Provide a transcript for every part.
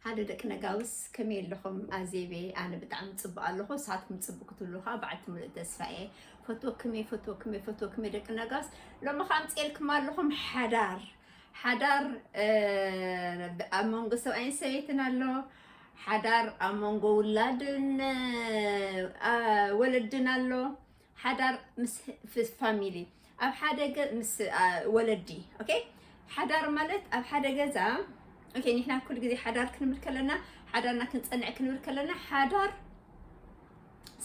ሃሎ ደቂ ነጋውስ ከመይ ኣለኹም ኣዜበይ ኣነ ብጣዕሚ ጽቡቅ ኣለኹ ንስኻትኩም ጽቡቅ ክትብሉ ከዓ በዓልቲ ምሉእ ተስፋ እየ ፈትወክም እየ ፈትወክም እየ ፈትወክም እየ ደቂ ነጋውስ ሎሚ ከዓ ኣምፅኤልኩም ኣለኹም ሓዳር ሓዳር ኣብ መንጎ ሰብኣይን ሰበይትን ኣሎ ሓዳር ኣብ መንጎ ውላድን ወለድን ኣሎ ሓዳር ምስ ፋሚሊ ኣብ ሓደ ምስ ወለዲ ኦኬ ሓዳር ማለት ኣብ ሓደ ገዛ ኦኬ ንሕና ኩሉ ግዜ ሓዳር ክንብል ከለና ሓዳርና ክንጸንዕ ክንብል ከለና ሓዳር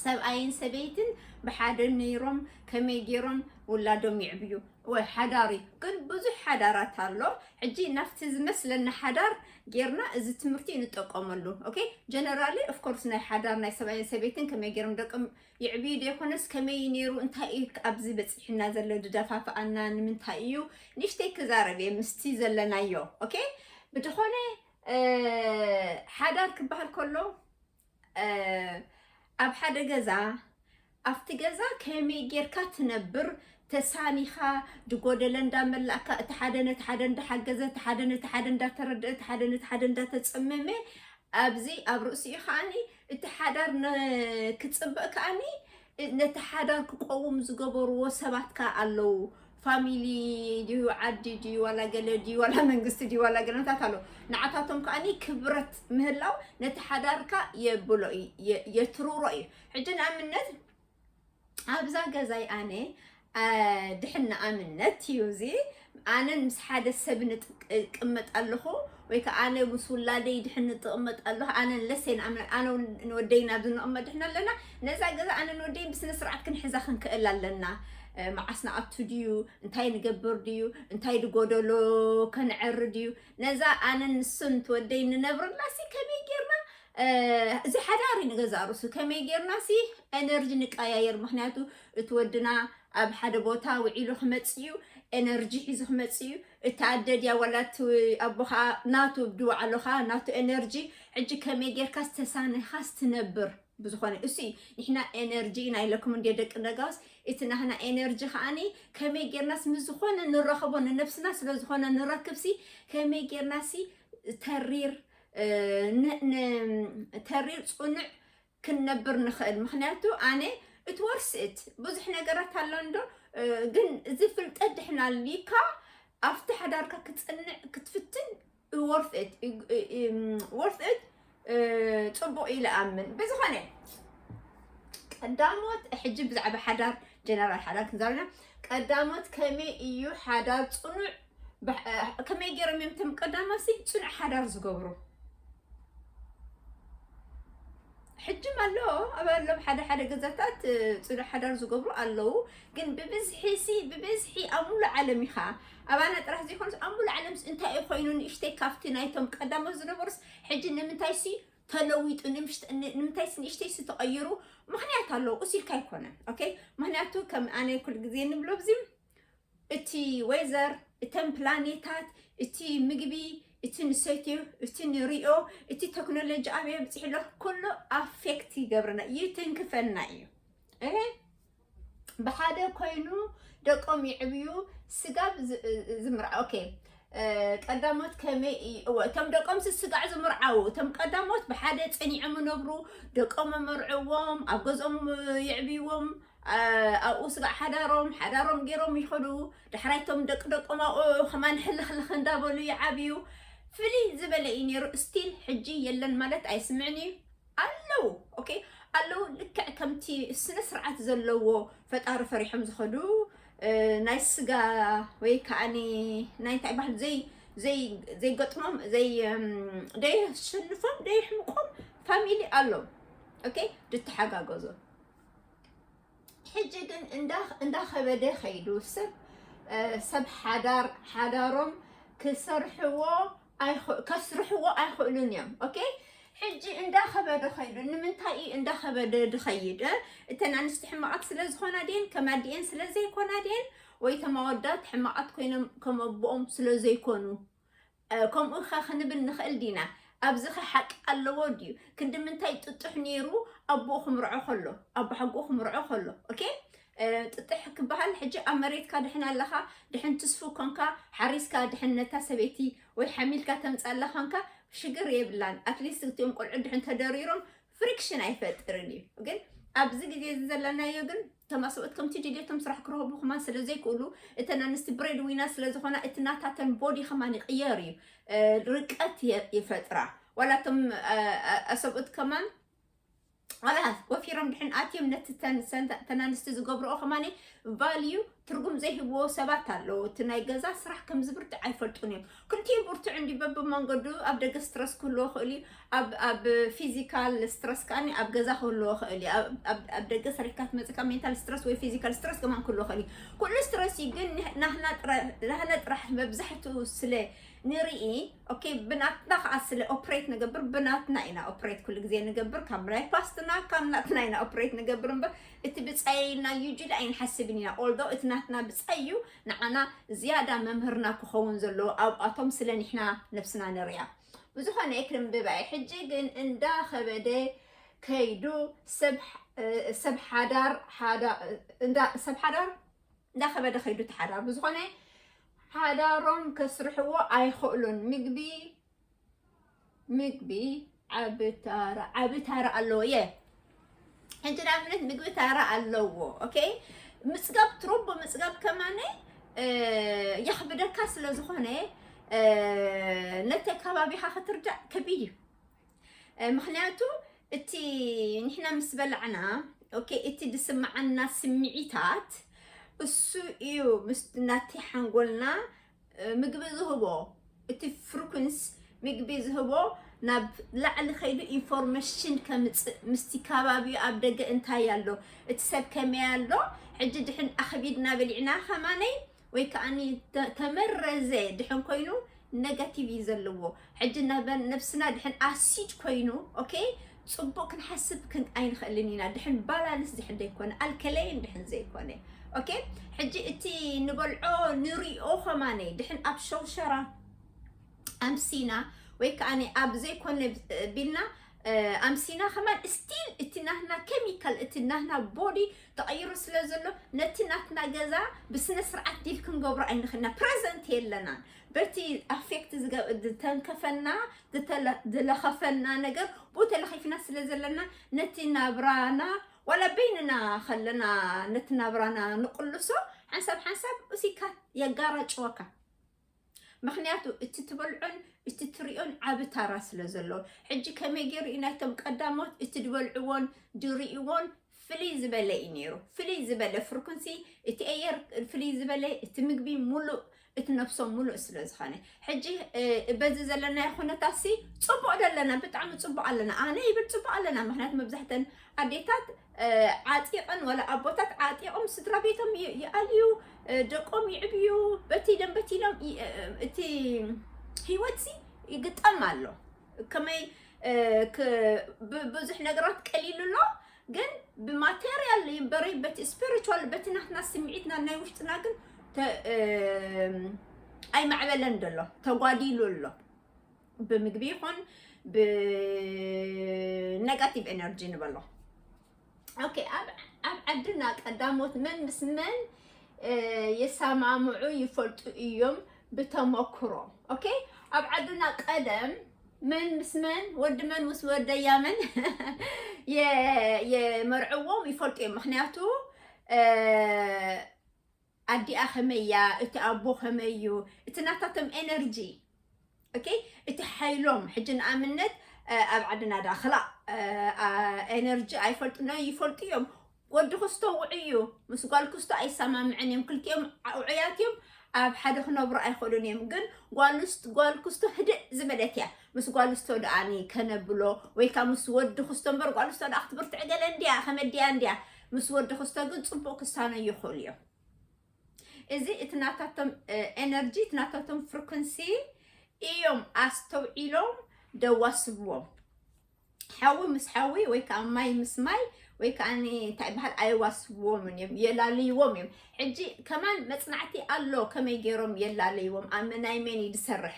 ሰብኣይን ሰበይትን ብሓደ ነይሮም ከመይ ገይሮም ውላዶም ይዕብዩ ወይ ሓዳር እዩ ግን ብዙሕ ሓዳራት ኣሎ ሕጂ ናብቲ ዝመስለና ሓዳር ጌርና እዚ ትምህርቲ ንጠቀመሉ ኦኬ ጀነራሊ ኦፍኮርስ ናይ ሓዳር ናይ ሰብኣይን ሰበይትን ከመይ ገይሮም ደቅም የዕብዩ ደይኮነስ ከመይ እዩ ነይሩ እንታይ እዩ ኣብዚ በጺሑና ዘሎ ድደፋፍኣና ንምንታይ እዩ ንእሽተይ ክዛረብ እየ ምስቲ ዘለናዮ ኦኬ ብድኾነ ሓዳር ክበሃል ከሎ ኣብ ሓደ ገዛ ኣብቲ ገዛ ከመይ ጌርካ ትነብር ተሳኒኻ ድጎደለ እንዳመላእካ እቲ ሓደ ነቲ ሓደ እንዳሓገዘ እቲ ሓደ ነቲ ሓደ እንዳተረድአ እቲ ሓደ ነቲ ሓደ እንዳተፀመመ ኣብዚ ኣብ ርእሲኡ ከዓኒ እቲ ሓዳር ንክፅብቅ ከኣኒ ነቲ ሓዳር ክቆውም ዝገበርዎ ሰባት ከኣ ኣለዉ ፋሚሊ ድዩ ዓዲ ድዩ ዋላ ገለ ድዩ ዋላ መንግስቲ ድዩ ዋላ ገለታት ኣለዉ ንዓታቶም ከኣኒ ክብረት ምህላው ነቲ ሓዳርካ የብሎ እዩ የትርሮ እዩ ሕጂ ንኣብነት ኣብዛ ገዛይ ኣነ ድሕና ኣምነት እዩ እዚ ኣነን ምስ ሓደ ሰብ ንቅመጥ ኣለኹ ወይ ከዓ ኣነ ምስ ውላደይ ድሕን ንጥቕመጥ ኣለኹ ኣነ ለሴን ኣነ ንወደይን ኣብዚ ንቕመጥ ድሕና ኣለና ነዛ ገዛ ኣነ ንወደይን ብስነ ስርዓት ክንሕዛ ክንክእል ኣለና መዓስ ንኣቱ ድዩ እንታይ ንገብር ድዩ እንታይ ድጎደሎ ከንዕሪ ድዩ ነዛ ኣነን ንሱን ትወደይ ንነብርላሲ ከመይ ጌርና እዚ ሓዳር እዩ ንገዛእ ርእሱ ከመይ ጌርና ሲ ኤነርጂ ንቀያየር ምክንያቱ እቲ ወድና ኣብ ሓደ ቦታ ውዒሉ ክመፅእ እዩ ኤነርጂ ሒዙ ክመፅእ እዩ እቲ ኣደ ድያ ዋላ እቲ ኣቦ ከዓ ናቱ ድውዓሎ ከዓ ናቱ ኤነርጂ ሕጂ ከመይ ጌርካ ዝተሳነኻስ ትነብር ብዝኾነ እሱ እዩ ንሕና ኤነርጂ ኢና ኢለኩም እንዲ ደቂ ነጋውስ እቲ ናህና ኤነርጂ ከዓኒ ከመይ ጌርናስ ምስ ዝኾነ ንረኸቦ ንነብስና ስለ ዝኾነ ንረክብሲ ከመይ ጌርናሲ ተሪር ተሪር ፅኑዕ ክንነብር ንኽእል ምክንያቱ ኣነ እቲ ወርስእት ብዙሕ ነገራት ኣሎ እንዶ ግን እዚ ፍልጠት ድሕና ኣልካ ኣብቲ ሓዳርካ ክፅንዕ ክትፍትን ወርስእት ወርስእት ፅቡቅ ኢለ ኣምን ብዝኾነ ቀዳሞት ሕጂ ብዛዕባ ሓዳር ጀነራል ሓዳር ክንዛረና ቀዳሞት ከመይ እዩ ሓዳር ፅኑዕ ከመይ ገይሮም እዮም እቶም ቀዳማሲ ፅኑዕ ሓዳር ዝገብሩ? ሕጂም ኣሎ ኣብ ኣሎም ሓደ ሓደ ገዛታት ፅኑዕ ሓዳር ዝገብሩ ኣለዉ። ግን ብብዝሒ ሲ ብብዝሒ ኣብ ሙሉእ ዓለም ኢኻ ኣባና ጥራሕ ዘይኮነስ ኣብ ሙሉእ ዓለምስ እንታይ እዩ ኮይኑ ንእሽተይ ካብቲ ናይቶም ቀዳሞት ዝነበሩስ ሕጂ ንምንታይ ሲ ተለዊጡ ንምንታይ ሲ ንእሽተይ ሲ ተቐይሩ ምክንያት ኣለዎ እስ ኢልካ ኣይኮነን ኦኬ ምክንያቱ ከም ኣነ ኩል ግዜ ንብሎ ብዚም እቲ ወይዘር፣ እተን ፕላኔታት፣ እቲ ምግቢ፣ እቲ ንሰትዮ፣ እቲ ንሪኦ፣ እቲ ቴክኖሎጂ ኣበይ ኣብፂሑ ኣሎ ኩሉ ኣፌክት ይገብረና ይትንክፈና እዩ። እህ ብሓደ ኮይኑ ደቆም ይዕብዩ ስጋብ ዝ- እ- ዝምርዓ ኦኬ እ፣ ቀዳሞት ከመይ እዩ- እወ፣ እቶም ደቆም ስስጋዕ ዝምርዓው እቶም ቀዳሞት ብሓደ ፀኒዖም ይነብሩ ደቆም መርዕዎም ኣብ ገዝኦም እ፣ የዕብይዎም ኣብኡ ስጋዕ ሓዳሮም ሓዳሮም ገይሮም ይኸዱ። ዳሕራይ እቶም ደቂ ደቆም ኣብኡ ከማን ሕልኽልኽ እንዳበሉ ይዓብዩ። ፍልይ ዝበለ እዩ ነይሩ። ስቲል ሕጂ የለን ማለት ኣይስምዕን እዩ ኣለው ኦኬ ኣለው ልክዕ ከምቲ ስነ ስርዓት ዘለዎ ፈጣሪ ፈሪሖም ዝኸዱ ናይ ስጋ ወይ ከዓኒ ናይ እንታይ ባህል ዘይ ዘይገጥሞም ደየሸንፎም ደየሕምቆም ፋሚሊ ኣሎ ኦኬ ድተሓጋገዞ ሕጂ ግን እንዳኸበደ ከይዱ ሰብ ሰብ ሓዳር ሓዳሮም ክሰርሕዎ ከስርሕዎ ኣይኽእሉን እዮም ኦኬ ሕጂ እንዳኸበደ ከይዱ ንምንታይ እዩ እንዳኸበደ ድኸይድ እተን ኣንስቲ ሕማቓት ስለ ዝኾና ድየን ከም ኣዲኤን ስለ ዘይኮና ድየን ወይ ተማወዳት ሕማቓት ኮይኖም ከም ኣቦኦም ስለ ዘይኮኑ ከምኡ'ኸ ክንብል ንኽእል ዲና? ኣብዚኸ ሓቂ ኣለዎ ድዩ? ክንዲ ምንታይ ጥጡሕ ነይሩ ኣቦኡ ክምርዖ ከሎ፣ ኣቦሓጎኡ ክምርዖ ከሎ። ኦኬ ጥጥሕ ክበሃል ሕጂ ኣብ መሬትካ ድሕን ኣለኻ ድሕን ትስፉ ኮንካ ሓሪስካ ድሕን ነታ ሰበይቲ ወይ ሓሚልካ ተምፃላ ኮንካ ሽግር የብላን ኣትሊስት እትኦም ቆልዑ ድሕን ተደሪሮም ፍሪክሽን ኣይፈጥርን እዩ ግን ኣብዚ ግዜ እዚ ዘለናዮ ግን እቶም ኣሰብኡት ከምቲ ድልየቶም ስራሕ ክረኽቡ ከማ ስለ ዘይክእሉ እተን ኣንስቲ ብሬድ ዊና ስለ ዝኾና እቲ ናታተን ቦዲ ከማ ይቕየር እዩ ርቀት ይፈጥራ ዋላ እቶም ኣሰብኡት ከማ ዋላ ወፊሮም ድሕን ኣትዮም ነቲ ተን ኣንስቲ ዝገብርኦ ከማ ቫልዩ ትርጉም ዘይህብዎ ሰባት ኣለዉ እቲ ናይ ገዛ ስራሕ ከም ዝብርትዕ ኣይፈልጡን እዮም ክልቲኡ ብርቱዕ እንዲ በብመንገዱ ኣብ ደገ ስትረስ ክህልዎ ክእል እዩ ኣብ- ኣብ ፊዚካል ስትረስ ከዓኒ ኣብ ገዛ ክህልዎ ክእል እዩ ኣብ- ኣብ- ኣብ ደገ ሰሪሕካ ትመፅካ ሜንታል ስትረስ ወይ ፊዚካል ስትረስ ከማን ክህልዎ ክእል እዩ ኩሉ ስትረስ እዩ ግን ንህ- ናህና ጥረ- ናህና ጥራሕ መብዛሕትኡ ስለ ንርኢ ኦኬ ብናትና ከዓ ስለ ኦፕሬት ንገብር ብናትና ኢና ኦፕሬት ኩሉ ግዜ ንገብር ካብ ናይ ፓስትና ካብ ናትና ኢና ኦፕሬት ንገብር እምበር እቲ ብጻየይ እና ዩጅድ ኣይንሓስብን ኢና ኦልዶ እቲ ናትና ብጻይ እዩ ንዓና ዝያዳ መምህርና ክኸውን ዘለዎ ኣብኣቶም ስለ ንሕና ነብስና ንርያ ብዝኾነ ክንብብ ኣየ ሕጂ ግን እንዳ ከበደ ከይዱ ሰብ ሓዳር ሰብ ሓዳር እንዳ ከበደ ከይዱ ተሓዳር ብዝኾነ ሓዳሮም ከስርሕዎ ኣይኽእሉን ምግቢ ምግቢ ዓቢ ታራ ዓቢ ታራ ኣለዎ የ ሕጂ ንኣብነት ምግቢ ታራ ኣለዎ ኦኬ ምፅጋብ ትሮቦ ምፅጋብ ከማነ የኽብደካ ስለ ዝኾነ ነቲ ከባቢኻ ክትርዳእ ከቢድ እዩ ምክንያቱ እቲ ንሕና ምስ በላዕና ኦኬ እቲ ዝስምዓና ስምዒታት እሱ እዩ ምስ ናቲ ሓንጎልና ምግቢ ዝህቦ እቲ ፍርኩንስ ምግቢ ዝህቦ ናብ ላዕሊ ከይዱ ኢንፎርሜሽን ከምፅእ ምስቲ ከባቢኡ ኣብ ደገ እንታይ ኣሎ እቲ ሰብ ከመይ ኣሎ ሕጂ ድሕን ኣኽቢድና በሊዕና ከማነይ ወይ ከዓኒ ተመረዘ ድሕን ኮይኑ ነገቲቭ እዩ ዘለዎ ሕጂ ነበር ነብስና ድሕን ኣሲድ ኮይኑ ኦኬ ጽቡቅ ክንሓስብ ክን ኣይንኽእልን ኢና ድሕን ባላንስ ድሕን ዘይኮነ ኣልከለይን ድሕን ዘይኮነ ኦኬ ሕጂ እቲ ንበልዖ ንሪኦ ከማነ ድሕን ኣብ ሸውሸራ ኣምሲና ወይ ከዓ ኣብ ዘይኮነ ቢልና ኣምሲና ከማን ስቲል እቲ ናትና ኬሚካል እቲ ናትና ቦዲ ተቐይሩ ስለ ዘሎ ነቲ ናትና ገዛ ብስነ ስርዓት ዲል ክንገብሮ ኣይንኽእልና ፕረዘንት የለናን በቲ ኣፌክት ዝተንከፈና ዝለኸፈና ነገር ብኡ ተለኺፍና ስለ ዘለና ነቲ ናብራና ዋላ በይንና ከለና ነቲ ናብራና ንቕልሶ ሓንሳብ ሓንሳብ እሲካ የጋራጭወካ ምክንያቱ እቲ ትበልዖን እቲ ትሪኦን ዓብ ታራ ስለ ዘለዎ ሕጂ ከመይ ገይሩ እዩ ናይቶም ቀዳሞት እቲ ዝበልዕዎን ድርእዎን ፍልይ ዝበለ እዩ ነይሩ ፍልይ ዝበለ ፍርኩንሲ እቲ ኣየር ፍልይ ዝበለ እቲ ምግቢ ሙሉእ እቲ ነብሶም ሙሉእ ስለ ዝኾነ ሕጂ በዚ ዘለናዮ ኩነታትሲ ፅቡቅ ዶ ኣለና ብጣዕሚ ፅቡቅ ኣለና ኣነ ይብል ፅቡቅ ኣለና ምክንያቱ መብዛሕተን ኣዴታት ዓጢቐን ወላ ኣቦታት ዓጢቖም ስድራ ቤቶም ይኣልዩ ደቆም ይዕብዩ በቲ ኢሎም በቲ ኢሎም እቲ ህይወትሲ ይግጠም ኣሎ ከመይ ብዙሕ ነገራት ቀሊሉ ኣሎ ግን ብማቴሪያል በሪ በቲ ስፒሪቹዋል በቲ ናትና ስምዒትና ናይ ውሽጥና ግን ኣይማዕበለን ደሎ ተጓዲሉ ኣሎ ብምግቢ ይኹን ብነጋቲቭ ኤነርጂ ንበሎ ኦኬ ኣብ ኣብ ዓድና ቀዳሞት መን ምስ መን የሰማምዑ ይፈልጡ እዮም ብተመክሮ ኦኬ ኣብ ዓድና ቀደም መን ምስ መን ወዲ መን ምስ ወደያ መን የመርዕዎም ይፈልጡ እዮም ምክንያቱ ኣዲኣ ከመይ እያ እቲ ኣቦ ከመይ እዩ እቲ ናታቶም ኤነርጂ ኦኬ እቲ ሓይሎም ሕጂ ንኣብነት ኣብ ዓድና ድኣ ክላእ ኤነርጂ ኣይፈልጡን ዶ ይፈልጡ እዮም ወዲ ክስቶ ውዑይ እዩ ምስ ጓል ክስቶ ኣይሰማምዕን እዮም ክልቲኦም ውዑያት እዮም ኣብ ሓደ ክነብሩ ኣይኽእሉን እዮም ግን ጓል ክስቶ ህድእ ዝበለት እያ ምስ ጓል ክስቶ ድኣኒ ከነብሎ ወይ ከዓ ምስ ወዲ ክስቶ እምበር ጓል ክስቶ ድኣ ክትብርትዕ ገለ እንድያ ከመድያ እንድያ ምስ ወዲ ክስቶ ግን ፅቡቅ ክሳነዩ ይኽእሉ እዮም እዚ እቲ ናታቶም ኤነርጂ እቲ ናታቶም ፍሪኩንሲ እዮም ኣስተውዒሎም ደዋስብዎም ሓዊ ምስ ሓዊ ወይ ከዓ ማይ ምስ ማይ ወይ ከዓ እንታይ ይበሃል ኣይዋስብዎምን እዮም የላለይዎም እዮም ሕጂ ከማን መፅናዕቲ ኣሎ ከመይ ገይሮም የላለይዎም ኣብ ናይ መን እዩ ዝሰርሕ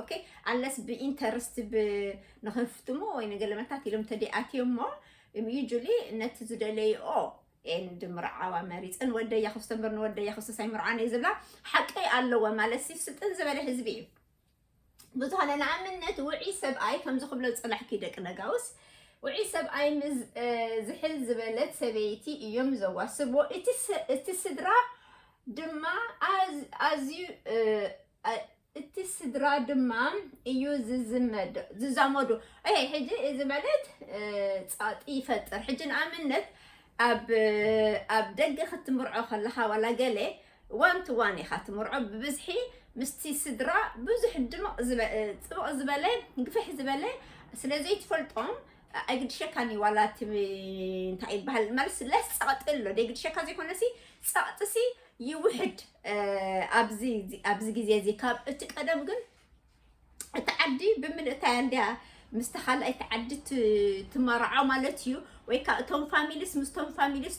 ኦኬ ኣለስ ብኢንተርስት ንክፍትሙ ወይ ንገለመታት ኢሎም ተደኣትዮሞ ዩጁሊ ነቲ ዝደለይኦ ኤንድ ምርዓዋ መሪፀን ወደያ ክፍቶ እምበር ንወደያ ክፍቶ ሳይምርዓን እዩ ዝብላ ሓቀይ ኣለዎ ማለት ሲ ስጥን ዝበለ ህዝቢ እዩ ብዙሃነ ንኣብነት ውዒ ሰብኣይ ከምዚ ክብሎ ፅላሕኪ ደቂ ነጋውስ ውዒ ሰብኣይ ምስ ዝሕል ዝበለት ሰበይቲ እዮም ዘዋስብዎ እቲ ስድራ ድማ ኣዝዩ እቲ ስድራ ድማ እዩ ዝዝመዶ ዝዛመዶ እሄ ሕጂ እዚ ማለት ጸቕጢ ይፈጥር ሕጂ ንኣብነት ኣብ ኣብ ደገ ክትምርዖ ከለኻ ዋላ ገለ ዋን ቱ ዋን ኢኻ ትምርዖ ብብዝሒ ምስቲ ስድራ ብዙሕ ድምቕ ጽብቕ ዝበለ ግፍሕ ዝበለ ስለ ዘይትፈልጦም ኣይግድሸካን እዩ ዋላ እቲ እንታይ ይበሃል ማለት ለስ ጸቕጢ ኣሎ ደይግድሸካ ዘይኮነሲ ጸቕጢሲ ይውሕድ ኣብዚ ኣብዚ ግዜ እዚ ካብ እቲ ቀደም ግን እቲ ዓዲ ብምልእታ እያ እንድያ ምስቲ ካልኣይቲ ዓዲ ትመርዖ ማለት እዩ ወይ ከዓ እቶም ፋሚሊስ ምስቶም ፋሚሊስ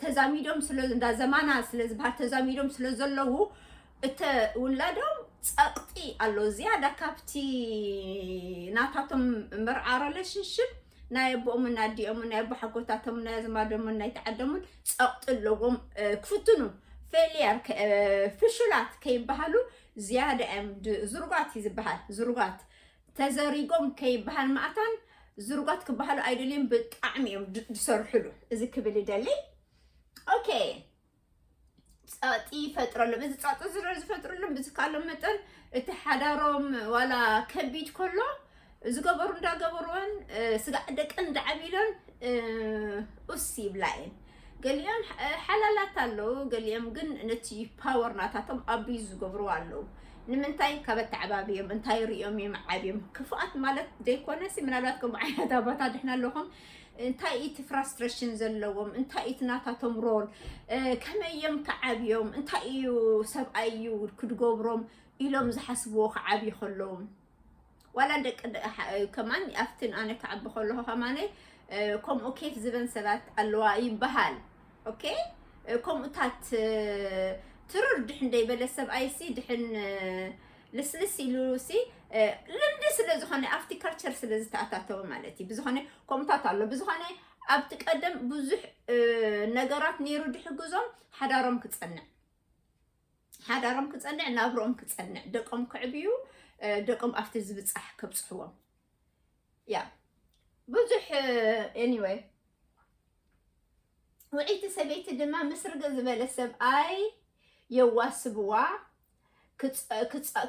ተዛሚዶም ስለ እንዳ ዘማና ስለ ዝበሃል ተዛሚዶም ስለ ዘለዉ እተ ውላዶም ፀቕጢ ኣሎ ዝያዳ ካብቲ ናታቶም መርዓ ረለሽንሽፕ ናይ ኣቦኦምን ኣዲኦምን ናይ ኣቦሓጎታቶምን ናይ ኣዝማዶምን ናይ ተዓደሙን ፀቕጢ ኣለዎም ክፍትኑ ፌልያር ፍሹላት ከይበሃሉ ዝያዳ እዮም ዝርጓት እዩ ዝበሃል ዝርጓት ተዘሪጎም ከይበሃል ማእታን ዝርጓት ክበሃሉ ኣይደልዮም ብጣዕሚ እዮም ዝሰርሕሉ እዚ ክብል ይደሊ ኦኬ ጸቕጢ ይፈጥረሎም እዚ ጸቕጢ ዝረ ዝፈጥረሎም ብዝካሎም መጠን እቲ ሓዳሮም ዋላ ከቢድ ከሎ ዝገበሩ እንዳገበሩን ስጋዕ ደቀን እንዳዓቢሎን ኡስ ይብላ እየን ገሊኦም ሓላላት ኣለዉ ገሊኦም ግን ነቲ ፓወር ናታቶም ኣቢዩ ዝገብሩ ኣለዉ ንምንታይ ካብ ኣተዓባብዮም እንታይ ሪኦም እዮም ዓብዮም ክፉኣት ማለት ዘይኮነሲ ምናልባት ከምኡ ዓይነት ኣባታ ድሕና ኣለኹም እንታይ እዩ እቲ ፍራስትሬሽን ዘለዎም? እንታይ እዩ እቲ ናታቶም ሮል? ከመይ እዮም ክዓብዮም? እንታይ እዩ ሰብኣይ እዩ ክድገብሮም ኢሎም ዝሓስብዎ ክዓብዩ ከለዎም ዋላ ደቂ ከማን ኣብትን ኣነ ክዓቢ ከለኹ ከማነ ከምኡ ኬፍ ዝበን ሰባት ኣለዋ ይበሃል ኦኬ ከምኡታት ትርር ድሕን ደይበለ ሰብኣይሲ ድሕን ልስልስ ኢሉ ሲ ልምዲ ስለ ዝኾነ ኣብቲ ካልቸር ስለ ዝተኣታተወ ማለት እዩ ብዝኾነ ከምታት ኣሎ ብዝኾነ ኣብቲ ቀደም ብዙሕ እ፣ ነገራት ነይሩ ድሕግዞም ሓዳሮም ክፀንዕ ሓዳሮም ክፀንዕ ናብርኦም ክፀንዕ ደቆም ክዕብዩ እ፣ ደቆም ኣብቲ ዝብፃሕ ከብፅሕዎም ያ ብዙሕ ኤኒወይ ውዕይቲ ሰበይቲ ድማ ምስርግ ዝበለ ሰብኣይ የዋስብዋ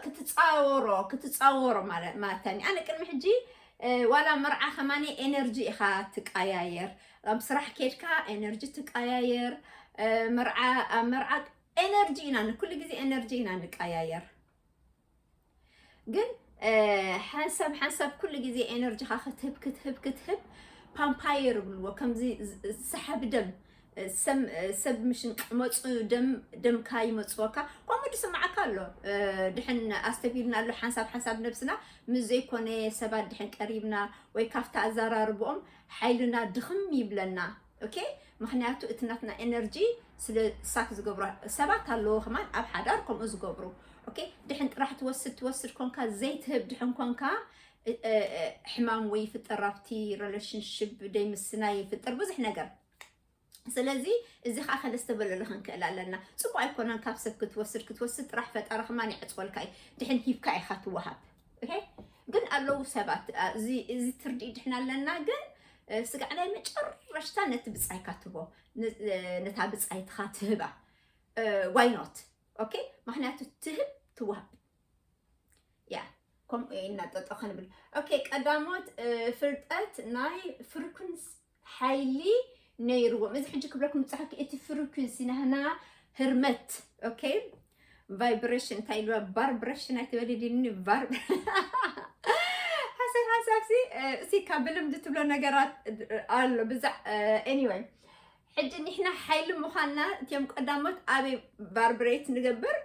ክትፃወሮ ክትፃወሮ ማለትኒ ኣነ ቅድሚ ሕጂ ዋላ መርዓ ከማኒ ኤነርጂ ኢኻ ትቀያየር ኣብ ስራሕ ኬድካ ኤነርጂ ትቀያየር መርዓ ኣብ መርዓ ኤነርጂ ኢና ኩሉ ግዜ ኤነርጂ ኢና ንቀያየር ግን ሓንሳብ ሓንሳብ ኩሉ ግዜ ኤነርጂኻ ክትህብ ክትህብ ክትህብ ፓምፓየር ይብልዎ ከምዚ ሰሓቢ ደም ሰብ ምሽን ቅመፁ ደም ደምካ ይመፅወካ ከምኡ ድስማዓካ ኣሎ ድሕን ኣስተፊልና ኣሎ ሓንሳብ ሓንሳብ ነብስና ምስ ዘይኮነ ሰባት ድሕን ቀሪብና ወይ ካብቲ ኣዘራርብኦም ሓይልና ድኽም ይብለና ኦኬ ምክንያቱ እቲ ናትና ኤነርጂ ስለ ሳክ ዝገብሮ ሰባት ኣለዎ ከማን ኣብ ሓዳር ከምኡ ዝገብሩ ኦኬ ድሕን ጥራሕ ትወስድ ትወስድ ኮንካ ዘይትህብ ድሕን ኮንካ እ- እ- እ- ሕማም ወይ ይፍጠር ኣብቲ ሪሌሽንሽፕ ደይምስናይ ይፍጠር ብዙሕ ነገር ስለዚ እዚ ከዓ ከለስተበለሉ ክንክእል ኣለና ፅቡቅ ኣይኮነን ካብ ሰብ ክትወስድ ክትወስድ ጥራሕ ፈጣሪ ከማን ይዕፅወልካ እዩ ድሕን ሂብካ ኢካ ትወሃብ ግን ኣለዉ ሰባት እዚ ትርዲ ድሕና ኣለና ግን ስጋዕ ናይ መጨረሽታ ነቲ ብፃይካ ትቦ ነታ ብፃይትኻ ትህባ ዋይኖት ኦኬ ምክንያቱ ትህብ ትዋሃብ ያ ከምኡ ኢና ጠጠ ክንብል ኦኬ ቀዳሞት ፍልጠት ናይ ፍርኩንስ ሓይሊ ነይርዎም እዚ ሕጂ ክብለኩም ዝፀሓፍኪ እቲ ፍሪኩንሲ ናህና ህርመት ኦኬ ቫይብሬሽን እንታይ ኢልዋ ባርብሬሽን ኣይትበሊ ድኒ ባር ሓሳብ ሓሳብሲ እሲ ካብ ብልምዲ ትብሎ ነገራት ኣሎ ብዛዕ ኤኒወይ ሕጂ ንሕና ሓይሊ ምዃንና እትዮም ቀዳሞት ኣበይ ቫርብሬት ንገብር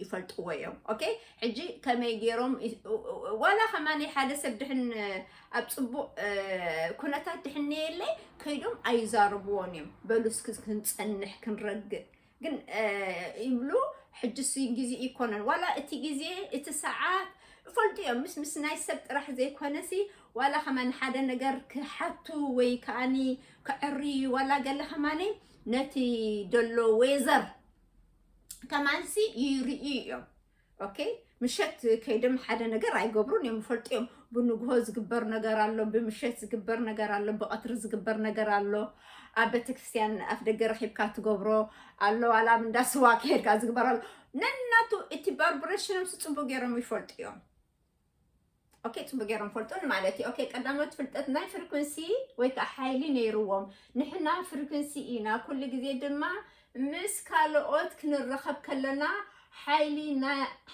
ይፈልጥዎ እዮም ኦኬ ሕጂ ከመይ ገይሮም ዋላ ከማኒ ሓደ ሰብ ድሕን ኣብ ፅቡቅ ኩነታት ድሕን የለይ ከይዶም ኣይዛርብዎን እዮም በሉ እስኪ ክንፀንሕ ክንረግእ ግን ይብሉ ሕጅስ ግዜ ይኮነን ዋላ እቲ ግዜ እቲ ሰዓት ይፈልጡ እዮም ምስ ምስ ናይ ሰብ ጥራሕ ዘይኮነሲ ዋላ ከማን ሓደ ነገር ክሓቱ ወይ ከዓኒ ክዕርዩ ዋላ ገለ ከማኒ ነቲ ደሎ ወይዘር ከማንሲ ይርእዩ እዮም ኦኬ ምሸት ከይዶም ሓደ ነገር ኣይገብሩን እዮም ይፈልጡ እዮም ብንግሆ ዝግበር ነገር ኣሎ ብምሸት ዝግበር ነገር ኣሎ ብቐትሪ ዝግበር ነገር ኣሎ ኣብ ቤተክርስትያን ኣፍ ደገ ረኪብካ ትገብሮ ኣሎ ዋላ ኣብ እንዳ ስዋ ከሄድካ ዝግበር ኣሎ ነናቱ እቲ ባርብሬሽኖም ጽቡቅ ገይሮም ይፈልጡ እዮም ኦኬ ጽቡቅ ገይሮም ፈልጡን ማለት እዩ ኦኬ ቀዳሞት ፍልጠት ናይ ፍሪኩንሲ ወይ ከዓ ሓይሊ ነይርዎም ንሕና ፍሪኩንሲ ኢና ኩሉ ግዜ ድማ ምስ ካልኦት ክንራኸብ ከለና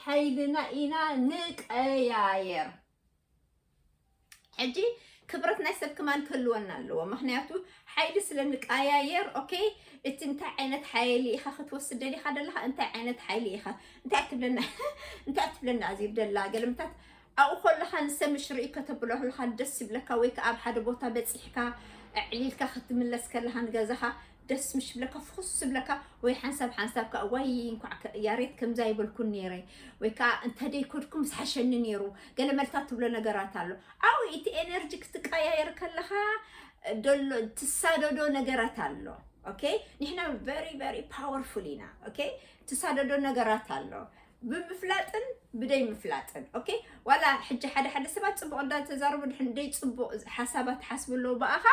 ሓይልና ኢና ንቀያየር ሕጂ ክብረት ናይ ሰብ ከማን ክህልወና ኣለዎ ምክንያቱ ሓይሊ ስለ ንቀያየር ኦኬ እቲ እንታይ ዓይነት ሓይሊ ኢኻ ክትወስድ ደሊኻ ደለኻ እንታይ ዓይነት ሓይሊ ኢኻ እንታይ ትብለና እንታይ ትብለና እዚ ደላ ገልምታት ኣብኡ ከለኻ ንሰብ ምሽ ርኢ ከተብሎ ከለኻ ደስ ይብለካ ወይ ከዓ ኣብ ሓደ ቦታ በፂሕካ ዕሊልካ ክትምለስ ከለኻ ንገዛኻ ደስ ምሽ ዝብለካ ፍኹስ ዝብለካ ወይ ሓንሳብ ሓንሳብ ከዓ ዋይ እንኳዕ ያሬት ከምዛ ይበልኩን ነይረ ወይ ከዓ እንተደይ ኮድኩም ዝሓሸኒ ነይሩ ገለ መልታት ትብሎ ነገራት ኣሎ ዓው እቲ ኤነርጂ ክትቀያየር ከለካ ደሎ ትሳደዶ ነገራት ኣሎ ኦኬ ንሕና ቨሪ ቨሪ ፓወርፉል ኢና ኦኬ ትሳደዶ ነገራት ኣሎ ብምፍላጥን ብደይ ምፍላጥን ኦኬ ዋላ ሕጂ ሓደ ሓደ ሰባት ፅቡቅ እንዳተዛረቡ ድሕን ደይ ፅቡቅ ሓሳባት ትሓስቡ ኣለዉ ብኣኻ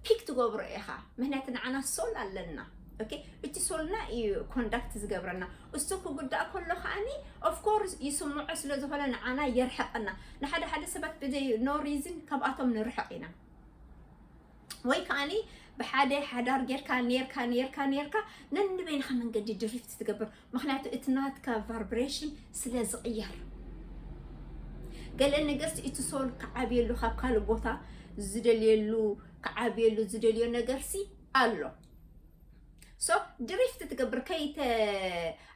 ፒክ ትገብሮ ኢኻ ምክንያቱ ንዓና ሶል ኣለና ኦኬ እቲ ሶልና እዩ ኮንዳክት ዝገብረና እሱ ክጉዳእ ከሎ ከዓኒ ኦፍኮርስ ይስምዖ ስለ ዝኾነ ንዓና የርሕቀና ንሓደ ሓደ ሰባት ብዘይ ኖ ሪዝን ካብኣቶም ንርሕቕ ኢና ወይ ከዓኒ ብሓደ ሓዳር ጌርካ ኔርካ ኔርካ ኔርካ ነንበይንኻ መንገዲ ድሪፍት ትገብር ምክንያቱ እቲ ናትካ ቫርብሬሽን ስለ ዝቕየር ገለ ነገርሲ እቲ ሶል ክዓብየሉ ካብ ካልእ ቦታ ዝደልየሉ ክዓብየሉ ዝደልዮ ነገርሲ ኣሎ ሶ ድሪፍት ትገብር ከይተ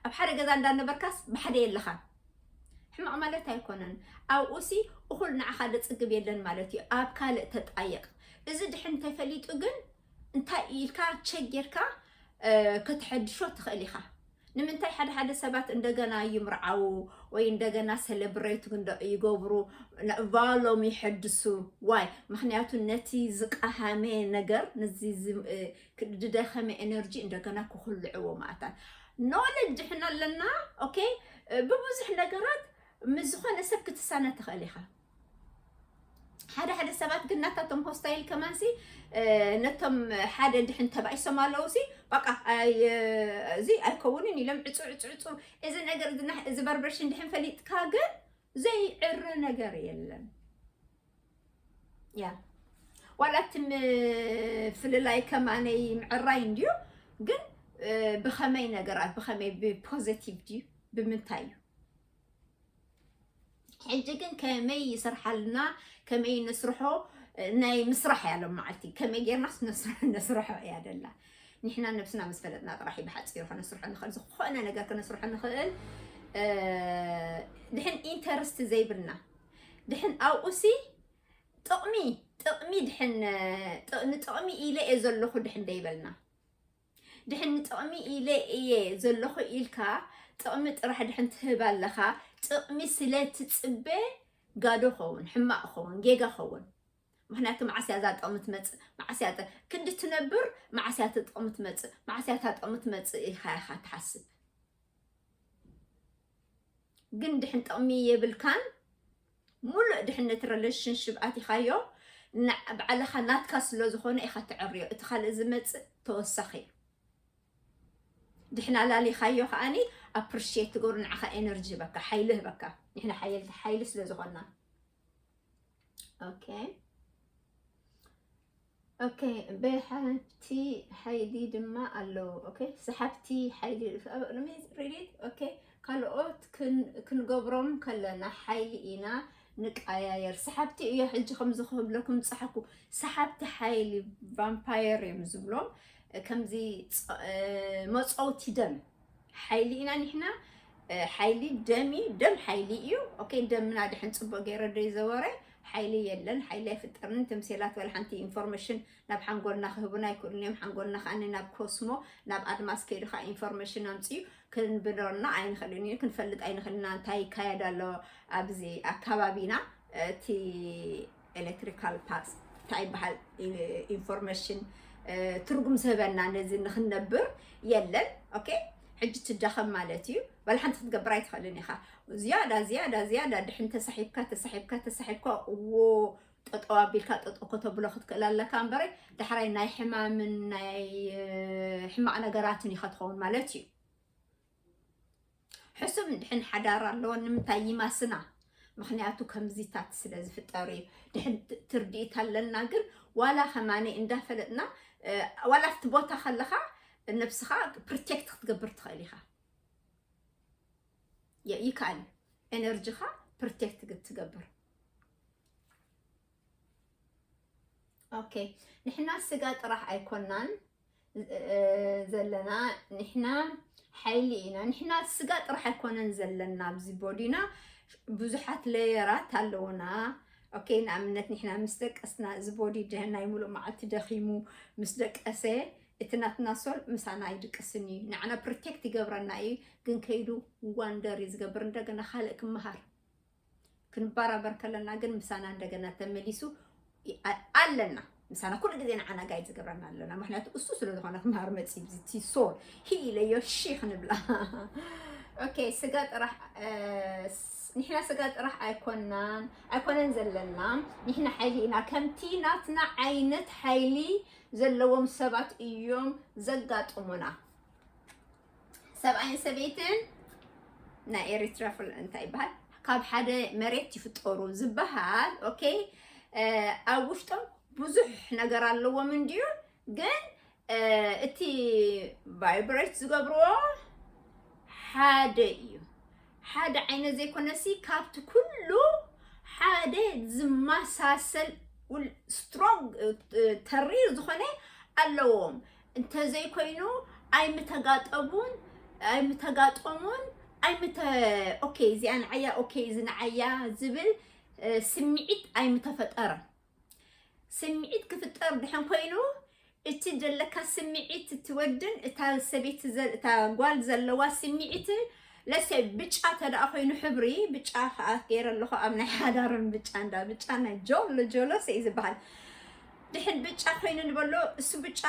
ኣብ ሓደ ገዛ እንዳነበርካስ ብሓደ የለኻ ሕማቕ ማለት ኣይኮነን ኣብኡሲ እኹል ንዓኻ ደፅግብ የለን ማለት እዩ ኣብ ካልእ ተጣየቕ እዚ ድሕን ተፈሊጡ ግን እንታይ ኢልካ ቸክ ጌርካ ከተሐድሾ ትኽእል ኢኻ። ንምንታይ ሓደ ሓደ ሰባት እንደገና ይምርዓው ወይ እንደገና ሰለብሬት ይገብሩ ቫሎም ይሐድሱ ዋይ ምክንያቱ ነቲ ዝቀሃመ ነገር ነዚ ዝደኸመ ኤነርጂ እንደገና ክኩልዕዎ ማእታት ኖለጅ ድሕና ኣለና ኦኬ ብብዙሕ ነገራት ምስ ዝኾነ ሰብ ክትሳነ ትኽእል ኢኻ ሓደ ሓደ ሰባት ግን ናታቶም ሆስታይል ከማንሲ ነቶም ሓደ ድሕን ተባኢሶም ኣለዉ ሲ በቃ እዚ ኣይከውንን ኢሎም ዕፁ ዕፁ ዕፁ እዚ ነገር እዚ ቫርብሬሽን ድሕን ፈሊጥካ ግን ዘይዕረ ነገር የለን ያ ዋላቲ ፍልላይ ከማነይ ምዕራይ እንድዩ ግን ብኸመይ ነገራት ብኸመይ ብፖዘቲቭ ድዩ ብምንታይ እዩ ሕጂ ግን ከመይ ይስርሓልና ከመይ ንስርሖ ናይ ምስራሕ እያ ሎም መዓልቲ ከመይ ጌርናስ ነስርሖ እያ ደላ ንሕና ነብስና ምስ ፈለጥና ጥራሕ እዩ ብሓፂሩ ከነስርሖ ንኽእል ዝኾነ ነገር ከነስርሖ ንኽእል ድሕን ኢንተርስቲ ዘይብልና ድሕን ኣብኡሲ ጥቕሚ ጥቕሚ ድሕን ንጥቕሚ ኢለ እየ ዘለኹ ድሕን ደይበልና ድሕን ንጥቕሚ ኢለ እየ ዘለኹ ኢልካ ጥቕሚ ጥራሕ ድሕን ትህብ ኣለኻ ጥቕሚ ስለ ትፅበ ጋዶ ኸውን ሕማቕ ኸውን ጌጋ ኸውን ምክንያቱ መዓስ እያ እዛ ጥቕሚ ትመፅእ መዓስ እያ ክንዲ ትነብር መዓስ እያ ጥቕሚ ትመፅእ መዓስ እያ ጥቕሚ ትመፅእ ኢልካ ኢኻ ትሓስብ ግን ድሕን ጥቕሚ የብልካን ሙሉእ ድሕነት ረለሽንሽብ ኣቲኻዮ ባዕልኻ ናትካ ስለ ዝኾነ ኢኻ ተዕርዮ እቲ ካልእ ዝመጽእ ተወሳኺ እዩ ድሕና ላሊኻዮ ከዓኒ ኣፕሪሽት ትገብሩ ንዓኻ ኤነርጂ ህበካ ሓይሊ ህበካ ንሕና ሓየልቲ ሓይሊ ስለ ዝኾና ኦኬ ኦኬ ብሓቲ ሓይሊ ድማ ኣለዉ ኦኬ ሰሓብቲ ሓይሊ ሪዲት ኦኬ ካልኦት ክንገብሮም ከለና ሓይሊ ኢና ንቀያየር ሰሓብቲ እዮ ሕጂ ከምዚ ክብለኩም ፀሓኩ ሰሓብቲ ሓይሊ ቫምፓየር እዮም ዝብሎም ከምዚ መፀውቲ ደም ሓይሊ ኢና ኒሕና ሓይሊ ደም እዩ ደም ሓይሊ እዩ ኦኬ ደምና ድሕን ፅቡቅ ገይረ ዶ ይዘወረ ሓይሊ የለን ሓይሊ ኣይፍጠርን እቶም ሴላት ወላ ሓንቲ ኢንፎርሜሽን ናብ ሓንጎልና ክህቡና ኣይክእሉን እዮም ሓንጎልና ከዓ ናብ ኮስሞ ናብ ኣድማስ ከይዱ ከዓ ኢንፎርሜሽን ኣምፅኡ ክንብረና ኣይንኽእልን እዩ ክንፈልጥ ኣይንኽእልና እንታይ ይካየድ ኣሎ ኣብዚ ኣካባቢና እቲ ኤለክትሪካል ፓትስ እንታይ ይበሃል ኢንፎርሜሽን ትርጉም ዝህበና ነዚ ንክንነብር የለን ኦኬ ሕጂ ትዳኸም ማለት እዩ በል ሓንቲ ክትገብር ኣይትኽእልን ኢኻ ዝያዳ ዝያዳ ዝያዳ ድሕን ተሳሒብካ ተሳሒብካ ተሳሒብካ እዎ ጠጠው ኣቢልካ ጠጠው ከተብሎ ክትክእል ኣለካ እምበረ ዳሕራይ ናይ ሕማምን ናይ ሕማቕ ነገራትን ኢኻ ትኸውን ማለት እዩ ሕሱም ድሕን ሓዳር ኣለዎ ንምንታይ ይማስና ምክንያቱ ከምዚታት ስለ ዝፍጠር እዩ ድሕን ትርድኢት ኣለና ግን ዋላ ከማኒ እንዳፈለጥና ዋላ ኣብቲ ቦታ ከለካ ነብስካ ፕሮቴክት ክትገብር ትኽእል ኢኻ ይካል ኤነርጂካ ፕሮቴክት ክትገብር ኦኬ ንሕና ስጋ ጥራሕ ኣይኮናን ዘለና ንሕና ሓይሊ ኢና ንሕና ስጋ ጥራሕ ኣይኮነን ዘለና ኣብዚ ቦዲና ብዙሓት ለየራት ኣለውና ኦኬ ንኣብነት ንሕና ምስ ደቀስና እዚ ቦዲ ናይ ሙሉእ መዓልቲ ደኺሙ ምስ ደቀሰ እቲ ናትና ሶል ምሳና ኣይድቅስን እዩ ንዓና ፕሮቴክት ይገብረና እዩ ግን ከይዱ ዋንደር እዩ ዝገብር እንደገና ካልእ ክመሃር ክንባራበር ከለና ግን ምሳና እንደገና ተመሊሱ ኣለና ምሳና ኩሉ ግዜ ንዓና ጋይድ ዝገብረና ኣለና ምክንያቱ እሱ ስለ ዝኾነ ክምሃር መፅዩ ብዝቲ ሶል ሂ ኢለዮ ሺ ክንብላ ኦኬ ስጋ ጥራሕ ንሕና ስጋ ጥራሕ ኣይኮናን ኣይኮነን ዘለና ንሕና ሓይሊ ኢና ከምቲ ናትና ዓይነት ሓይሊ ዘለዎም ሰባት እዮም ዘጋጥሙና ሰብኣይን ሰበይትን ናይ ኤሪትራ ፍል እንታይ ይበሃል ካብ ሓደ መሬት ይፍጠሩ ዝበሃል ኦኬ ኣብ ውሽጦም ብዙሕ ነገር ኣለዎም እንድዩ ግን እቲ ቫይብሬት ዝገብርዎ ሓደ እዩ ሓደ ዓይነት ዘይኮነሲ ካብቲ ኩሉ ሓደ ዝመሳሰል ስትሮንግ ተሪር ዝኾነ ኣለዎም እንተዘይኮይኑ ኣይምተጋጠቡን ኣይምተጋጠሙን ኣይምተ ኦኬ እዚኣ ንዓያ ኦኬ እዚ ንዓያ ዝብል ስምዒት ኣይምተፈጠረን ስምዒት ክፍጠር ድሕን ኮይኑ እቲ ዘለካ ስምዒት ትወድን እታ ሰበይቲ እታ ጓል ዘለዋ ስምዒት ለሰይ ብጫ ተደኣ ኮይኑ ሕብሪ ብጫ ከዓ ገይረ ኣለኹ ኣብ ናይ ሓዳርን ብጫ እንዳ ብጫ ናይ ጆሎ ጆሎ ሰይ ዝበሃል ድሕን ብጫ ኮይኑ ንበሎ እሱ ብጫ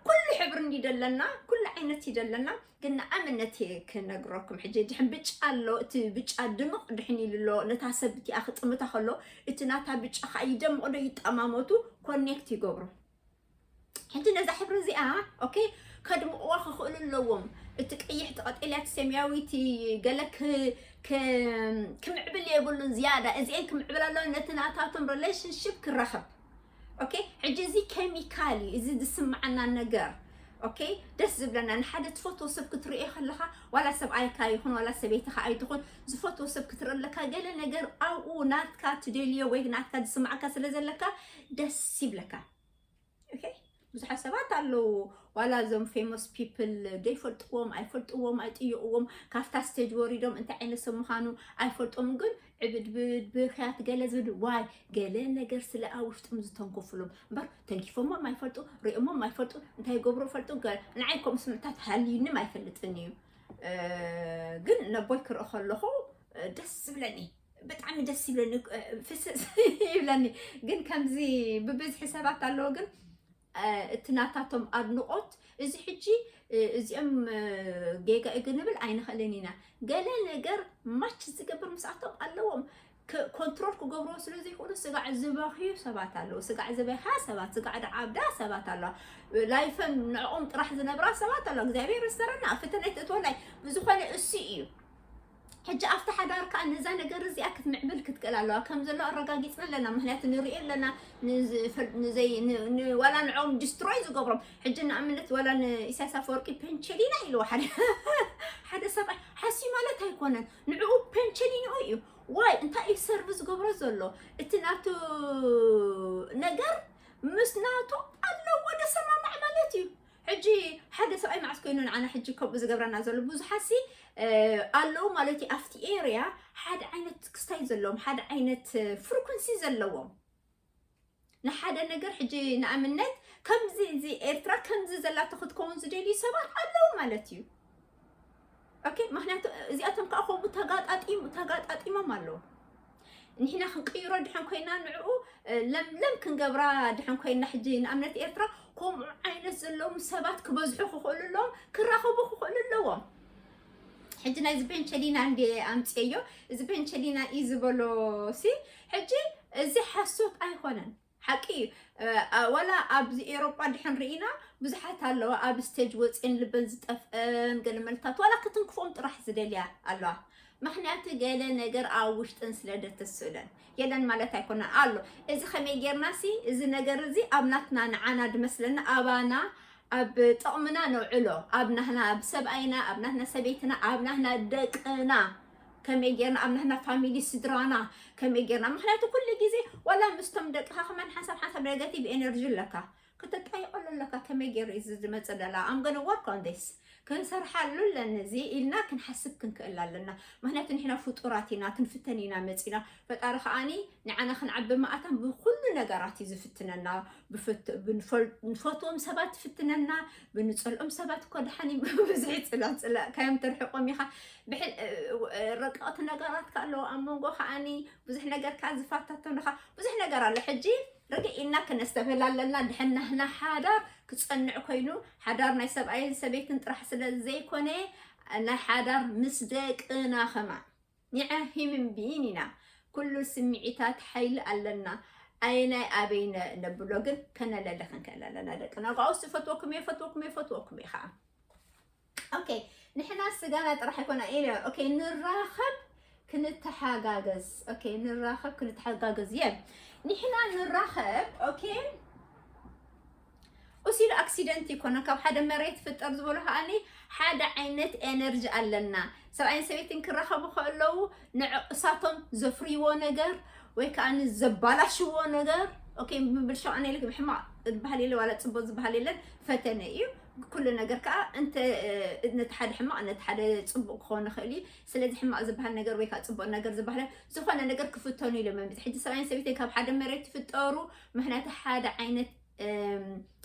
ኩሉ ሕብሪ እንዲደለና ኩሉ ዓይነት ይደለና ግን ንኣብነት እየ ክነግረኩም ሕጂ ድሕን ብጫ ኣሎ እቲ ብጫ ድምቕ ድሕን ኢሉ ኣሎ ነታ ሰብ እቲኣ ክጥምታ ከሎ እቲ ናታ ብጫ ከዓ ይደምቕ ዶ ይጠማመቱ ኮኔክት ይገብሩ ሕጂ ነዛ ሕብሪ እዚኣ ኦኬ ከድምቕዋ ክኽእሉ ኣለዎም እቲ ቀይሕ እቲ ቀጤልያ እቲ ሰማያዊ እቲ ገለ ክ- ክ- ክምዕብል የብሉን ዝያዳ እዚአን ክምዕብል ኣለዎ ነቲ ናታቶም ሪሌሽንሽፕ ክራኸብ ኦኬ ሕጂ እዚ ኬሚካል እዩ እዚ ዝስምዓና ነገር ኦኬ ደስ ዝብለና ንሓደ ትፈትዎ ሰብ ክትርእዮ ከለካ ዋላ ሰብኣይካ ይኹን ዋላ ሰበይትካ ኣይትኹን ዝፈትዎ ሰብ ክትርኢ ኣለካ ገለ ነገር ኣብኡ ናትካ ትደልዮ ወይ ናትካ ዝስምዓካ ስለ ዘለካ ደስ ይብለካ ኦኬ ብዙሓት ሰባት ኣለዉ ዋላ እዞም ፌሞስ ፒፕል ዘይፈልጥዎም ኣይፈልጥዎም ኣይጥይቕዎም ካብታ ስቴጅ ወሪዶም እንታይ ዓይነት ሰብ ምዃኑ ኣይፈልጦም ግን ዕብድብድ ብክያት ገለ ዝብል ዋይ ገለ ነገር ስለ ኣብ ውሽጦም ዝተንኮፍሎም እምበር ተንኪፎሞም ኣይፈልጡ ሪኦሞም ኣይፈልጡ እንታይ ገብሩ ፈልጡ ንዓይ ከምኡ ስምዕታት ሃልዩንም ኣይፈልጥን እዩ ግን ነቦይ ክርኢ ከለኹ ደስ ዝብለኒ ብጣዕሚ ደስ ይብለኒ ፍስስ ይብለኒ ግን ከምዚ ብብዝሒ ሰባት ኣለዎ ግን እቲ ናታቶም ኣድንቆት እዚ ሕጂ እዚኦም ጌጋ እዩ ክንብል ኣይንኽእልን ኢና ገለ ነገር ማች ዝገብር ምስኣቶም ኣለዎም ኮንትሮል ክገብርዎ ስለ ዘይክእሉ ስጋዕ ዝበኽዩ ሰባት ኣለዉ ስጋዕ ዝበኻ ሰባት ስጋዕ ድዓብዳ ሰባት ኣለዋ ላይፈን ንዕኦም ጥራሕ ዝነብራ ሰባት ኣለዋ እግዚኣብሔር ይስተረና ኣብ ፈተና ይትእትወላይ ብዝኾነ እሱ እዩ ሕጂ ኣብቲ ሓዳር ከኣ ነዛ ነገር እዚኣ ክትምዕብል ክትክእል ኣለዋ። ከም ዘሎ ኣረጋጊጽና ኣለና ምክንያቱ ንርእዮ ኣለና ዋላ ንዕኦም ዲስትሮይ ዝገብሮም ሕጂ ንኣብነት ዋላ ንኢሳያስ ኣፈወርቂ ፔንቸሊና ኢልዎ ሓደ ሓደ ሰብኣይ ሓስዩ ማለት ኣይኮነን ንዕኡ ፔንቸሊንኡ እዩ ዋይ እንታይ እዩ ሰርቪ ዝገብሮ ዘሎ እቲ ናቱ ነገር ምስ ናቱ ኣለዎ ደሰማማዕ ማለት እዩ ሕጂ ሓደ ሰብኣይ መዓስ ኮይኑ ንዓና ሕጂ ከምኡ ዝገብረና ዘሎ ብዙሓትሲ ኣለዉ ማለት እዩ ኣብቲ ኤርያ ሓደ ዓይነት ክስታይ ዘለዎም ሓደ ዓይነት ፍሪኩንሲ ዘለዎም ንሓደ ነገር ሕጂ ንኣብነት ከምዚ እዚ ኤርትራ ከምዚ ዘላቶ ክትከውን ዝደልዩ ሰባት ኣለዉ ማለት እዩ ኦኬ ምክንያቱ እዚኣቶም ከዓ ከምኡ ተጋጣጢሙ ተጋጣጢሞም ኣለዉ ንሕና ክንቅይሮ ድሕን ኮይና ንዕኡ ለምለም ክንገብራ ድሕን ኮይና ሕጂ ንኣብነት ኤርትራ ከምኡ ዓይነት ዘለዎም ሰባት ክበዝሑ ክኽእሉ ኣለዎም ክራኸቡ ክኽእሉ ኣለዎም ሕጂ ናይዚ ቤንቸሊና እንደ ኣምፅየዮ እዚ ቤንቸሊና እዩ ዝበሎ ሲ ሕጂ እዚ ሓሶት ኣይኮነን ሓቂ እዩ ዋላ ኣብዚ ኤሮጳ እንድሕን ርኢና ብዙሓት ኣለዋ ኣብ ስቴጅ ወፅኤን ልበን ዝጠፍአን ገለ መልታት ዋላ ክትንክፎም ጥራሕ ዝደልያ ኣለዋ ምክንያቱ ገለ ነገር ኣብ ውሽጠን ስለ ደተስእለን የለን ማለት ኣይኮነን ኣሎ እዚ ከመይ ጌርና ሲ እዚ ነገር እዚ ኣብ ናትና ንዓና ድመስለና ኣባና ኣብ ጥቕምና ነውዕሎ ኣብ ናህና ኣብ ሰብኣይና ኣብ ናትና ሰበይትና ኣብ ናህና ደቅና ከመይ ጌርና ኣብ ንሕና ፋሚሊ ስድራና ከመይ ጌርና ምክንያቱ ኩሉ ግዜ ዋላ ምስቶም ደቅኻ ከማን ሓንሳብ ሓንሳብ ኔጋቲቭ ኤነርጂ ኣለካ ክትጠይቀሉ ኣለካ ከመይ ገይሩ እዩ ዝመፀ ደላ ኣም ገነ ወርክ ኦን ዲስ ክንሰርሓሉ ኣለኒ እዚ ኢልና ክንሓስብ ክንክእል ኣለና ምክንያቱ ንሕና ፍጡራት ኢና ክንፍተን ኢና መፂና ፈጣሪ ከኣኒ ንዓና ክንዓቢ መኣታ ብኩሉ ነገራት እዩ ዝፍትነና ንፈትዎም ሰባት ይፍትነና ብንፀልኦም ሰባት እኮ ድሓን ብብዝሒ ፅላእ ፅላእካዮም ትርሕቆም ኢኻ ረቀቕቲ ነገራት ከ ኣለዎ ኣብ መንጎ ከኣኒ ብዙሕ ነገር ከዓ ዝፋታተኑኻ ብዙሕ ነገር ኣሎ ሕጂ ርግእ ኢልና ክነስተብህል ኣለና ድሕን ናህና ሓዳር ክፀንዕ ኮይኑ ሓዳር ናይ ሰብኣይን ሰበይትን ጥራሕ ስለ ዘይኮነ ናይ ሓዳር ምስ ደቅና ከማን ኒዐ ሂምን ቢን ኢና ኩሉ ስሚዒታት ሓይሊ ኣለና ኣየናይ ኣበይ ነብሎ ግን ከነለሊ ክንክእል ኣለና ደቂ ነጋውስ እፈትወኩም እየ እፈትወኩም እየ እፈትወኩም እየ ከዓ ኦኬ ንሕና ስጋና ጥራሕ ኣይኮና ኢለ ኦኬ ንራኸብ ክንተሓጋገዝ ኦኬ ንራኸብ ክንተሓጋገዝ እየ ንሕና ንራኸብ ኦኬ ኡስ ኢሉ ኣክሲደንት ኣይኮነን ካብ ሓደ መሬት ይፍጠር ዝበሉ ከኣ ሓደ ዓይነት ኤነርጂ ኣለና ሰብኣይን ሰበይትን ክራኸቡ ከለዉ ንዕቕሳቶም ዘፍርይዎ ነገር ወይ ከዓ ዘባላሽዎ ነገር ኦኬ ምብልሻው ኣነ ኢለ ብሕማቅ ዝበሃል የለ ዋላ ፅቡቅ ዝበሃል የለን ፈተነ እዩ ኩሉ ነገር ከዓ እንተ ነቲ ሓደ ሕማቅ ነቲ ሓደ ፅቡቅ ክኾን ይኽእል እዩ ስለዚ ሕማቅ ዝበሃል ነገር ወይ ከዓ ፅቡቅ ነገር ዝበሃል ዝኾነ ነገር ክፍተኑ ኢሎም እዮም ሕጂ ሰብኣይን ሰበይትን ካብ ሓደ መሬት ይፍጠሩ ምክንያቱ ሓደ ዓይነት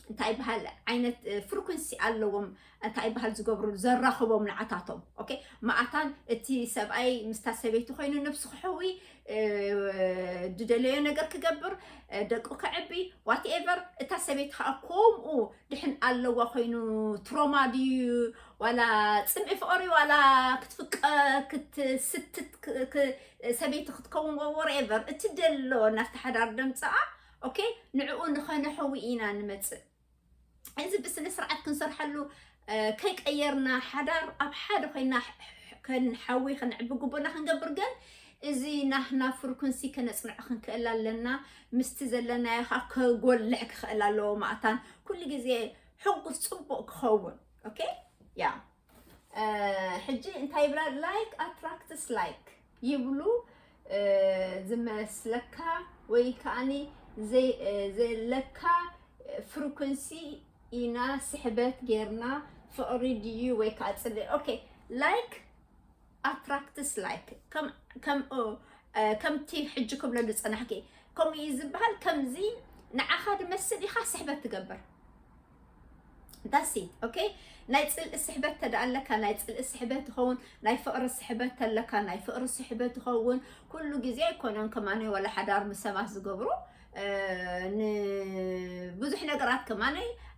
እንታይ ይበሃል ዓይነት ፍሪኩንሲ ኣለዎም እንታይ ይበሃል ዝገብሩ ዘራኽቦም ንዓታቶም ኦኬ መዓታን እቲ ሰብኣይ ምስታ ሰበይቲ ኮይኑ ነብሱ ክሕዊ ዝደለዮ ነገር ክገብር ደቁ ክዕቢ ዋትኤቨር እታ ሰበይቲ ከዓ ከምኡ ድሕን ኣለዋ ኮይኑ ትሮማ ድዩ ዋላ ፅምኢ ፍቅሪ ዋላ ክትፍቀ ክትስትት ሰበይቲ ክትከውን ወይ ወርኤቨር እትደሎ ናብቲ ሓዳር ደምጽኣ ኦኬ ንዕኡ ንኸነሕዊ ኢና ንመጽእ እዚ ብስነ ስርዓት ክንሰርሐሉ ከይቀየርና ሓዳር ኣብ ሓደ ኮይና ከንሓዊ ከነዕቢ ግቡእና ክንገብር ግን እዚ ናህና ፍርኩንሲ ከነፅንዖ ክንክእል ኣለና ምስቲ ዘለናዮ ከዓ ከጎልሕ ክኽእል ኣለዎ ማእታን ኩሉ ግዜ ሕጉስ ፅቡቅ ክኸውን ኦኬ ያ ሕጂ እንታይ ይብላ ላይክ ኣትራክትስ ላይክ ይብሉ ዝመስለካ ወይ ከዓኒ ዘለካ ፍሪኩንሲ ኢና ስሕበት ጌርና ፍቕሪ ድዩ ወይ ከዓ ፅሊ ኦኬ ላይክ ኣትራክትስ ላይክ ከምቲ ሕጂ ክብሎ ዝፀናሕኪ ከምኡ እዩ ዝበሃል ከምዚ ንዓኻ ድመስል ኢኻ ስሕበት ትገብር ዳሲ ኦኬ ናይ ፅልኢ ስሕበት ተደኣ ኣለካ ናይ ፅልኢ ስሕበት ይኸውን ናይ ፍቕሪ ስሕበት ተለካ ናይ ፍቕሪ ስሕበት ይኸውን ኩሉ ግዜ ኣይኮነን ከማነ ወላ ሓዳር ምስ ሰባት ዝገብሩ ንብዙሕ ነገራት ከማነ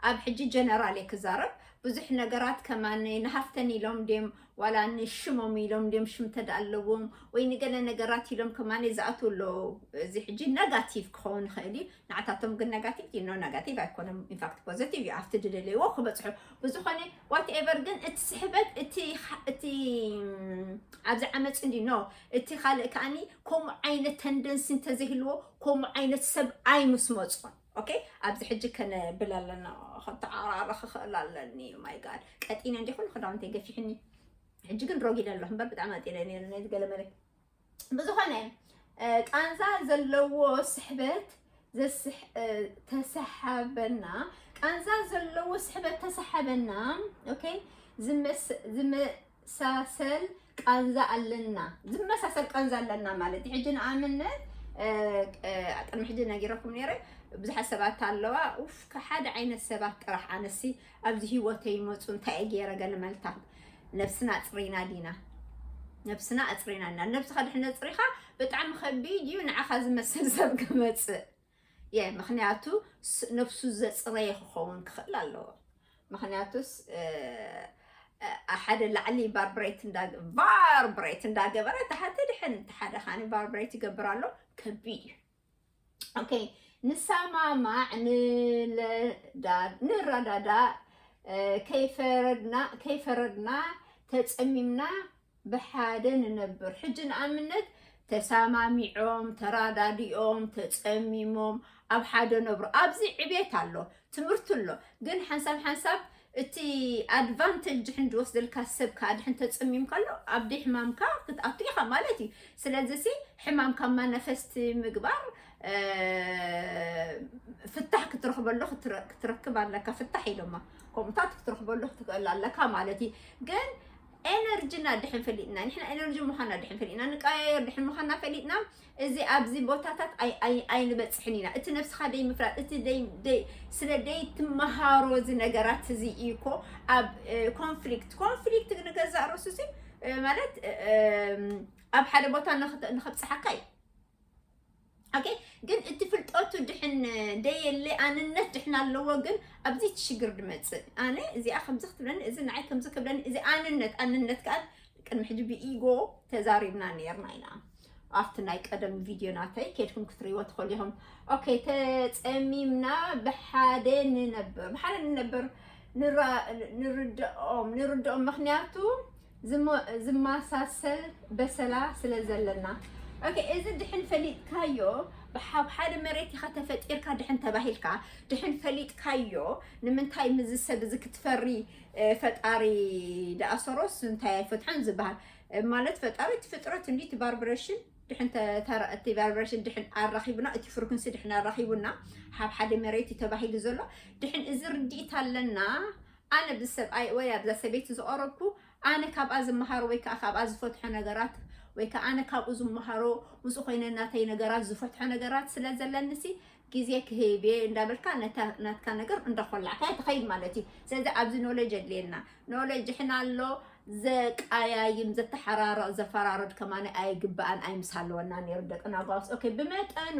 ኣብ ሕጂ ጀነራል እየ ክዛረብ ብዙሕ ነገራት ከማነ ንሃፍተን ኢሎም ድም ዋላ ንሽሞም ኢሎም ድዮም ሽም እንተድኣ ኣለዎም ወይ ንገለ ነገራት ኢሎም ከማን ዝኣትዉ ኣለዉ። እዚ ሕጂ ነጋቲቭ ክኸውን ይኽእል እዩ፣ ንዓታቶም ግን ነጋቲቭ ድዩ? ኖ ነጋቲቭ ኣይኮነን ኢንፋክት ፖዘቲቭ እዩ ኣብቲ ዝደለይዎ ክበጽሑ። ብዝኾነ ዋት ኤቨር ግን እቲ ስሕበት እቲ እቲ ኣብዚ ዓመጽ እንድዩ ኖ እቲ ካልእ ከኣኒ ከምኡ ዓይነት ተንደንሲ እንተዘይህልዎ ከምኡ ዓይነት ሰብ ኣይምስመጾን። ኦኬ ኣብዚ ሕጂ ከነብል ኣለና ከተዓራሪ ክኽእል ኣለኒ ማይ ጋድ ቀጢነ እንዲ ኩሉ ክዳውንተይ ገፊሕኒ ሕጂ ግን ሮጊደ ኣለኹ እምበር ብጣዕሚ ኣጢነ ነይሩ ነዚ ገለመለ ብዝኾነ ቃንዛ ዘለዎ ስሕበት ተሰሓበና ቃንዛ ዘለዎ ስሕበት ተሰሓበና ኦኬ ዝመሳሰል ቃንዛ ኣለና ዝመሳሰል ቃንዛ ኣለና ማለት እዩ። ሕጂ ንኣብነት ቅድሚ ሕጂ ነጊረኩም ነይረ ብዙሓት ሰባት ኣለዋ ኡፍ ሓደ ዓይነት ሰባት ጥራሕ ኣነሲ ኣብዚ ሂወተይ ይመፁ እንታይ እየ ገይረ ገለ መልታት ነብስና ኣፅሪና ዲና ነብስና ኣፅሪና ዲና ነብስኻ ድሕነት ፅሪኻ ብጣዕሚ ከቢድ እዩ ንዓኻ ዝመስል ሰብ ክመፅእ የ ምክንያቱ ነብሱ ዘፅረየ ክከውን ክክእል ኣለዎ ምክንያቱ ሓደ ላዕሊ ባርብሬት ቫርብሬት እንዳገበረ ተሓተ ድሕን ተሓደ ካኒ ቫርብሬት ይገብር ኣሎ ከቢድ እዩ ኦኬ ንሰማማዕ ንረዳዳእ ከይፈረድና ተፀሚምና ብሓደ ንነብር ሕጂ ንኣብነት ተሳማሚዖም ተራዳዲኦም ተጸሚሞም ኣብ ሓደ ነብሩ ኣብዚ ዕቤት ኣሎ ትምህርቲ ኣሎ ግን ሓንሳብ ሓንሳብ እቲ ኣድቫንተጅ ድሕን ዝወስደልካ ሰብ ከዓ ድሕን ተጸሚም ከሎ ኣብ ደይ ሕማምካ ክትኣቱ ኢኻ ማለት እዩ ስለዚ ሲ ሕማምካ ማነፈስቲ ምግባር ፍታሕ ክትረኽበሉ ክትረክብ ኣለካ ፍታሕ ኢሎማ ከምኡታት ክትረኽበሉ ክትክእል ኣለካ ማለት እዩ ግን ኤነርጂና ድሕን ፈሊጥና ንሕና ኤነርጂ ምዃና ድሕን ፈሊጥና ንቀያየር ድሕን ምዃና ፈሊጥና እዚ ኣብዚ ቦታታት ኣይንበፅሕን ኢና እቲ ነብስኻ ደይ ምፍላጥ እቲ ስለ ደይ ትመሃሮ እዚ ነገራት እዚ እዩ እኮ ኣብ ኮንፍሊክት ኮንፍሊክት ንገዛእ ርእሱ ሲ ማለት ኣብ ሓደ ቦታ ንክብፅሓካ እዩ ኦኬ ግን እቲ ፍልጠቱ ድሕን ደየለ ኣንነት ድሕን ኣለዎ ግን ኣብዚ እቲ ሽግር ድመፅእ ኣነ እዚኣ ከምዚ ክትብለኒ እዚ ንዓይ ከምዚ ክብለኒ እዚ ኣንነት ኣንነት ከዓ ቅድሚ ሕጂ ብኢጎ ተዛሪብና ነርና ኢና ኣብቲ ናይ ቀደም ቪድዮ ናተይ ኬድኩም ክትሪእዎ ትኽእሉ ኢኹም ኦኬ ተፀሚምና ብሓደ ንነበር ብሓደ ንነበር ንርድኦም ንርድኦም ምክንያቱ ዝማሳሰል በሰላ ስለ ዘለና ኦኬ እዚ ድሕን ፈሊጥካዮ ብሓብ ሓደ መሬት ኢኻ ተፈጢርካ ድሕን ተባሂልካ ድሕን ፈሊጥካዮ ንምንታይ ምዚ ሰብ እዚ ክትፈሪ ፈጣሪ ደኣሰሮስ እንታይ ኣይፈትሖን ዝበሃል ማለት ፈጣሪ እቲ ፍጥረት እንዲ እቲ ባርብሬሽን ድሕን እቲ ቫይብሬሽን ድሕን ኣራኺቡና እቲ ፍርኩንሲ ድሕን ኣራኺቡና ሓብ ሓደ መሬት እዩ ተባሂሉ ዘሎ ድሕን እዚ ርድኢት ኣለና ኣነ ኣብዚ ሰብኣይ ወይ ኣብዛ ሰበይቲ ዝቐረብኩ ኣነ ካብኣ ዝመሃሮ ወይ ከኣ ካብኣ ዝፈትሖ ነገራት ወይ ከኣ ኣነ ካብኡ ዝመሃሮ ምስኡ ኮይነ ናተይ ነገራት ዝፈትሖ ነገራት ስለ ዘለኒሲ ግዜ ክህብ እየ እንዳበልካ ነታ ናትካ ነገር እንዳኾላዕካያ ትኸይድ ማለት እዩ ስለዚ ኣብዚ ኖሌጅ የድልየና ኖሌጅ ሕና ኣሎ ዘቀያይም ዘተሓራርቕ ዘፈራርድ ከማነ ኣይግባእን ኣይምስ ኣለወና ነይሩ ደቅና ጓስ ኦኬ ብመጠኑ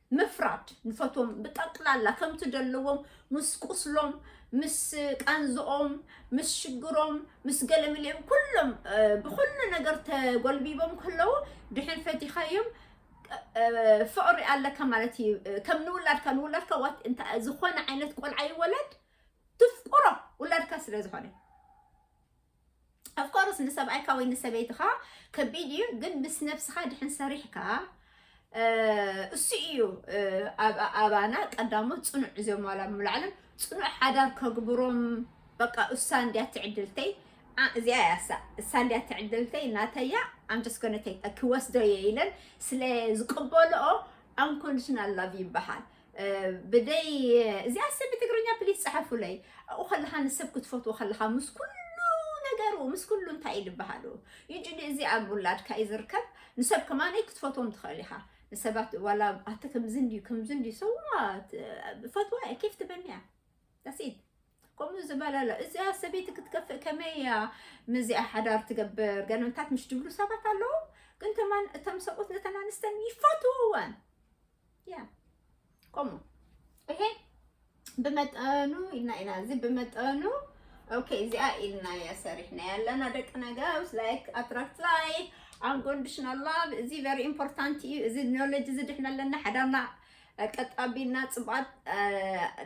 ምፍራድ ንፈትዎም ብጠቅላላ ከምቲ ደለዎም ምስ ቁስሎም ምስ ቃንዝኦም ምስ ሽግሮም ምስ ገለምልኦም ኩሎም ብኩሉ ነገር ተጎልቢቦም ከለዉ ድሕር ፈቲኻዮም ፍቅሪ ኣለካ ማለት እዩ ከም ንውላድካ ንውላድካ ዋት እንታይ ዝኾነ ዓይነት ቆልዓ ይወለድ ትፍቅሮ ውላድካ ስለ ዝኾነ ኣፍኮርስ ንሰብኣይካ ወይ ንሰበይትኻ ከቢድ እዩ ግን ምስ ነብስኻ ድሕን ሰሪሕካ እሱ እዩ ኣባና ቀዳሞ ፅኑዕ እዚኦም ዋላ ምላዕልን ፅኑዕ ሓዳር ከግብሮም በቃ እሳ እንዲያ ትዕድልተይ እዚኣ እያ እሳ እሳ እንዲያ ትዕድልተይ ናተያ ኣምጀስኮነተይ ክወስዶ እየ ኢለን ስለ ዝቅበልኦ ኣንኮንዲሽናል ላቭ ይበሃል ብደይ እዚኣ ሰብ ብትግርኛ ፕሊስ ፀሐፉለይ ኣብኡ ከለካ ንሰብ ክትፈትዎ ከለካ ምስ ኩሉ ነገሩ ምስ ኩሉ እንታይ እዩ ዝበሃሉ ዩጅዲ እዚ ኣብ ውላድካ እዩ ዝርከብ ንሰብ ከማነይ ክትፈትዎም ትኽእል ኢኻ ንሰባት ዋላ ኣቲ ከምዚ እንድዩ ከምዚ እንድዩ ሰዋት ፈትዋ እየ ኬፍ ትበኒ እያ ዳሲት ከምኡ ዝበለ ኣሎ እዚኣ ሰበይቲ ክትከፍእ ከመይ እያ ምዚኣ ሓዳር ትገብር ገለምታት ምሽ ድብሉ ሰባት ኣለዉ ግን ተማን እቶም ሰብኡት ነተን ኣንስተን ይፈትውወን ቆሞ ይሄ ብመጠኑ ኢልና ኢና እዚ ብመጠኑ ኦኬ እዚኣ ኢልና እያ ሰሪሕና ያለና ደቂ ነገውስ ላይክ ኣትራክት ላይክ ኣንኮንዲሽናል ላቭ እዚ ቨሪ ኢምፖርታንት እዩ እዚ ኖሎጅ እዚ ድሕና ኣለና ሓዳርና ቀጣቢና ፅቡቃት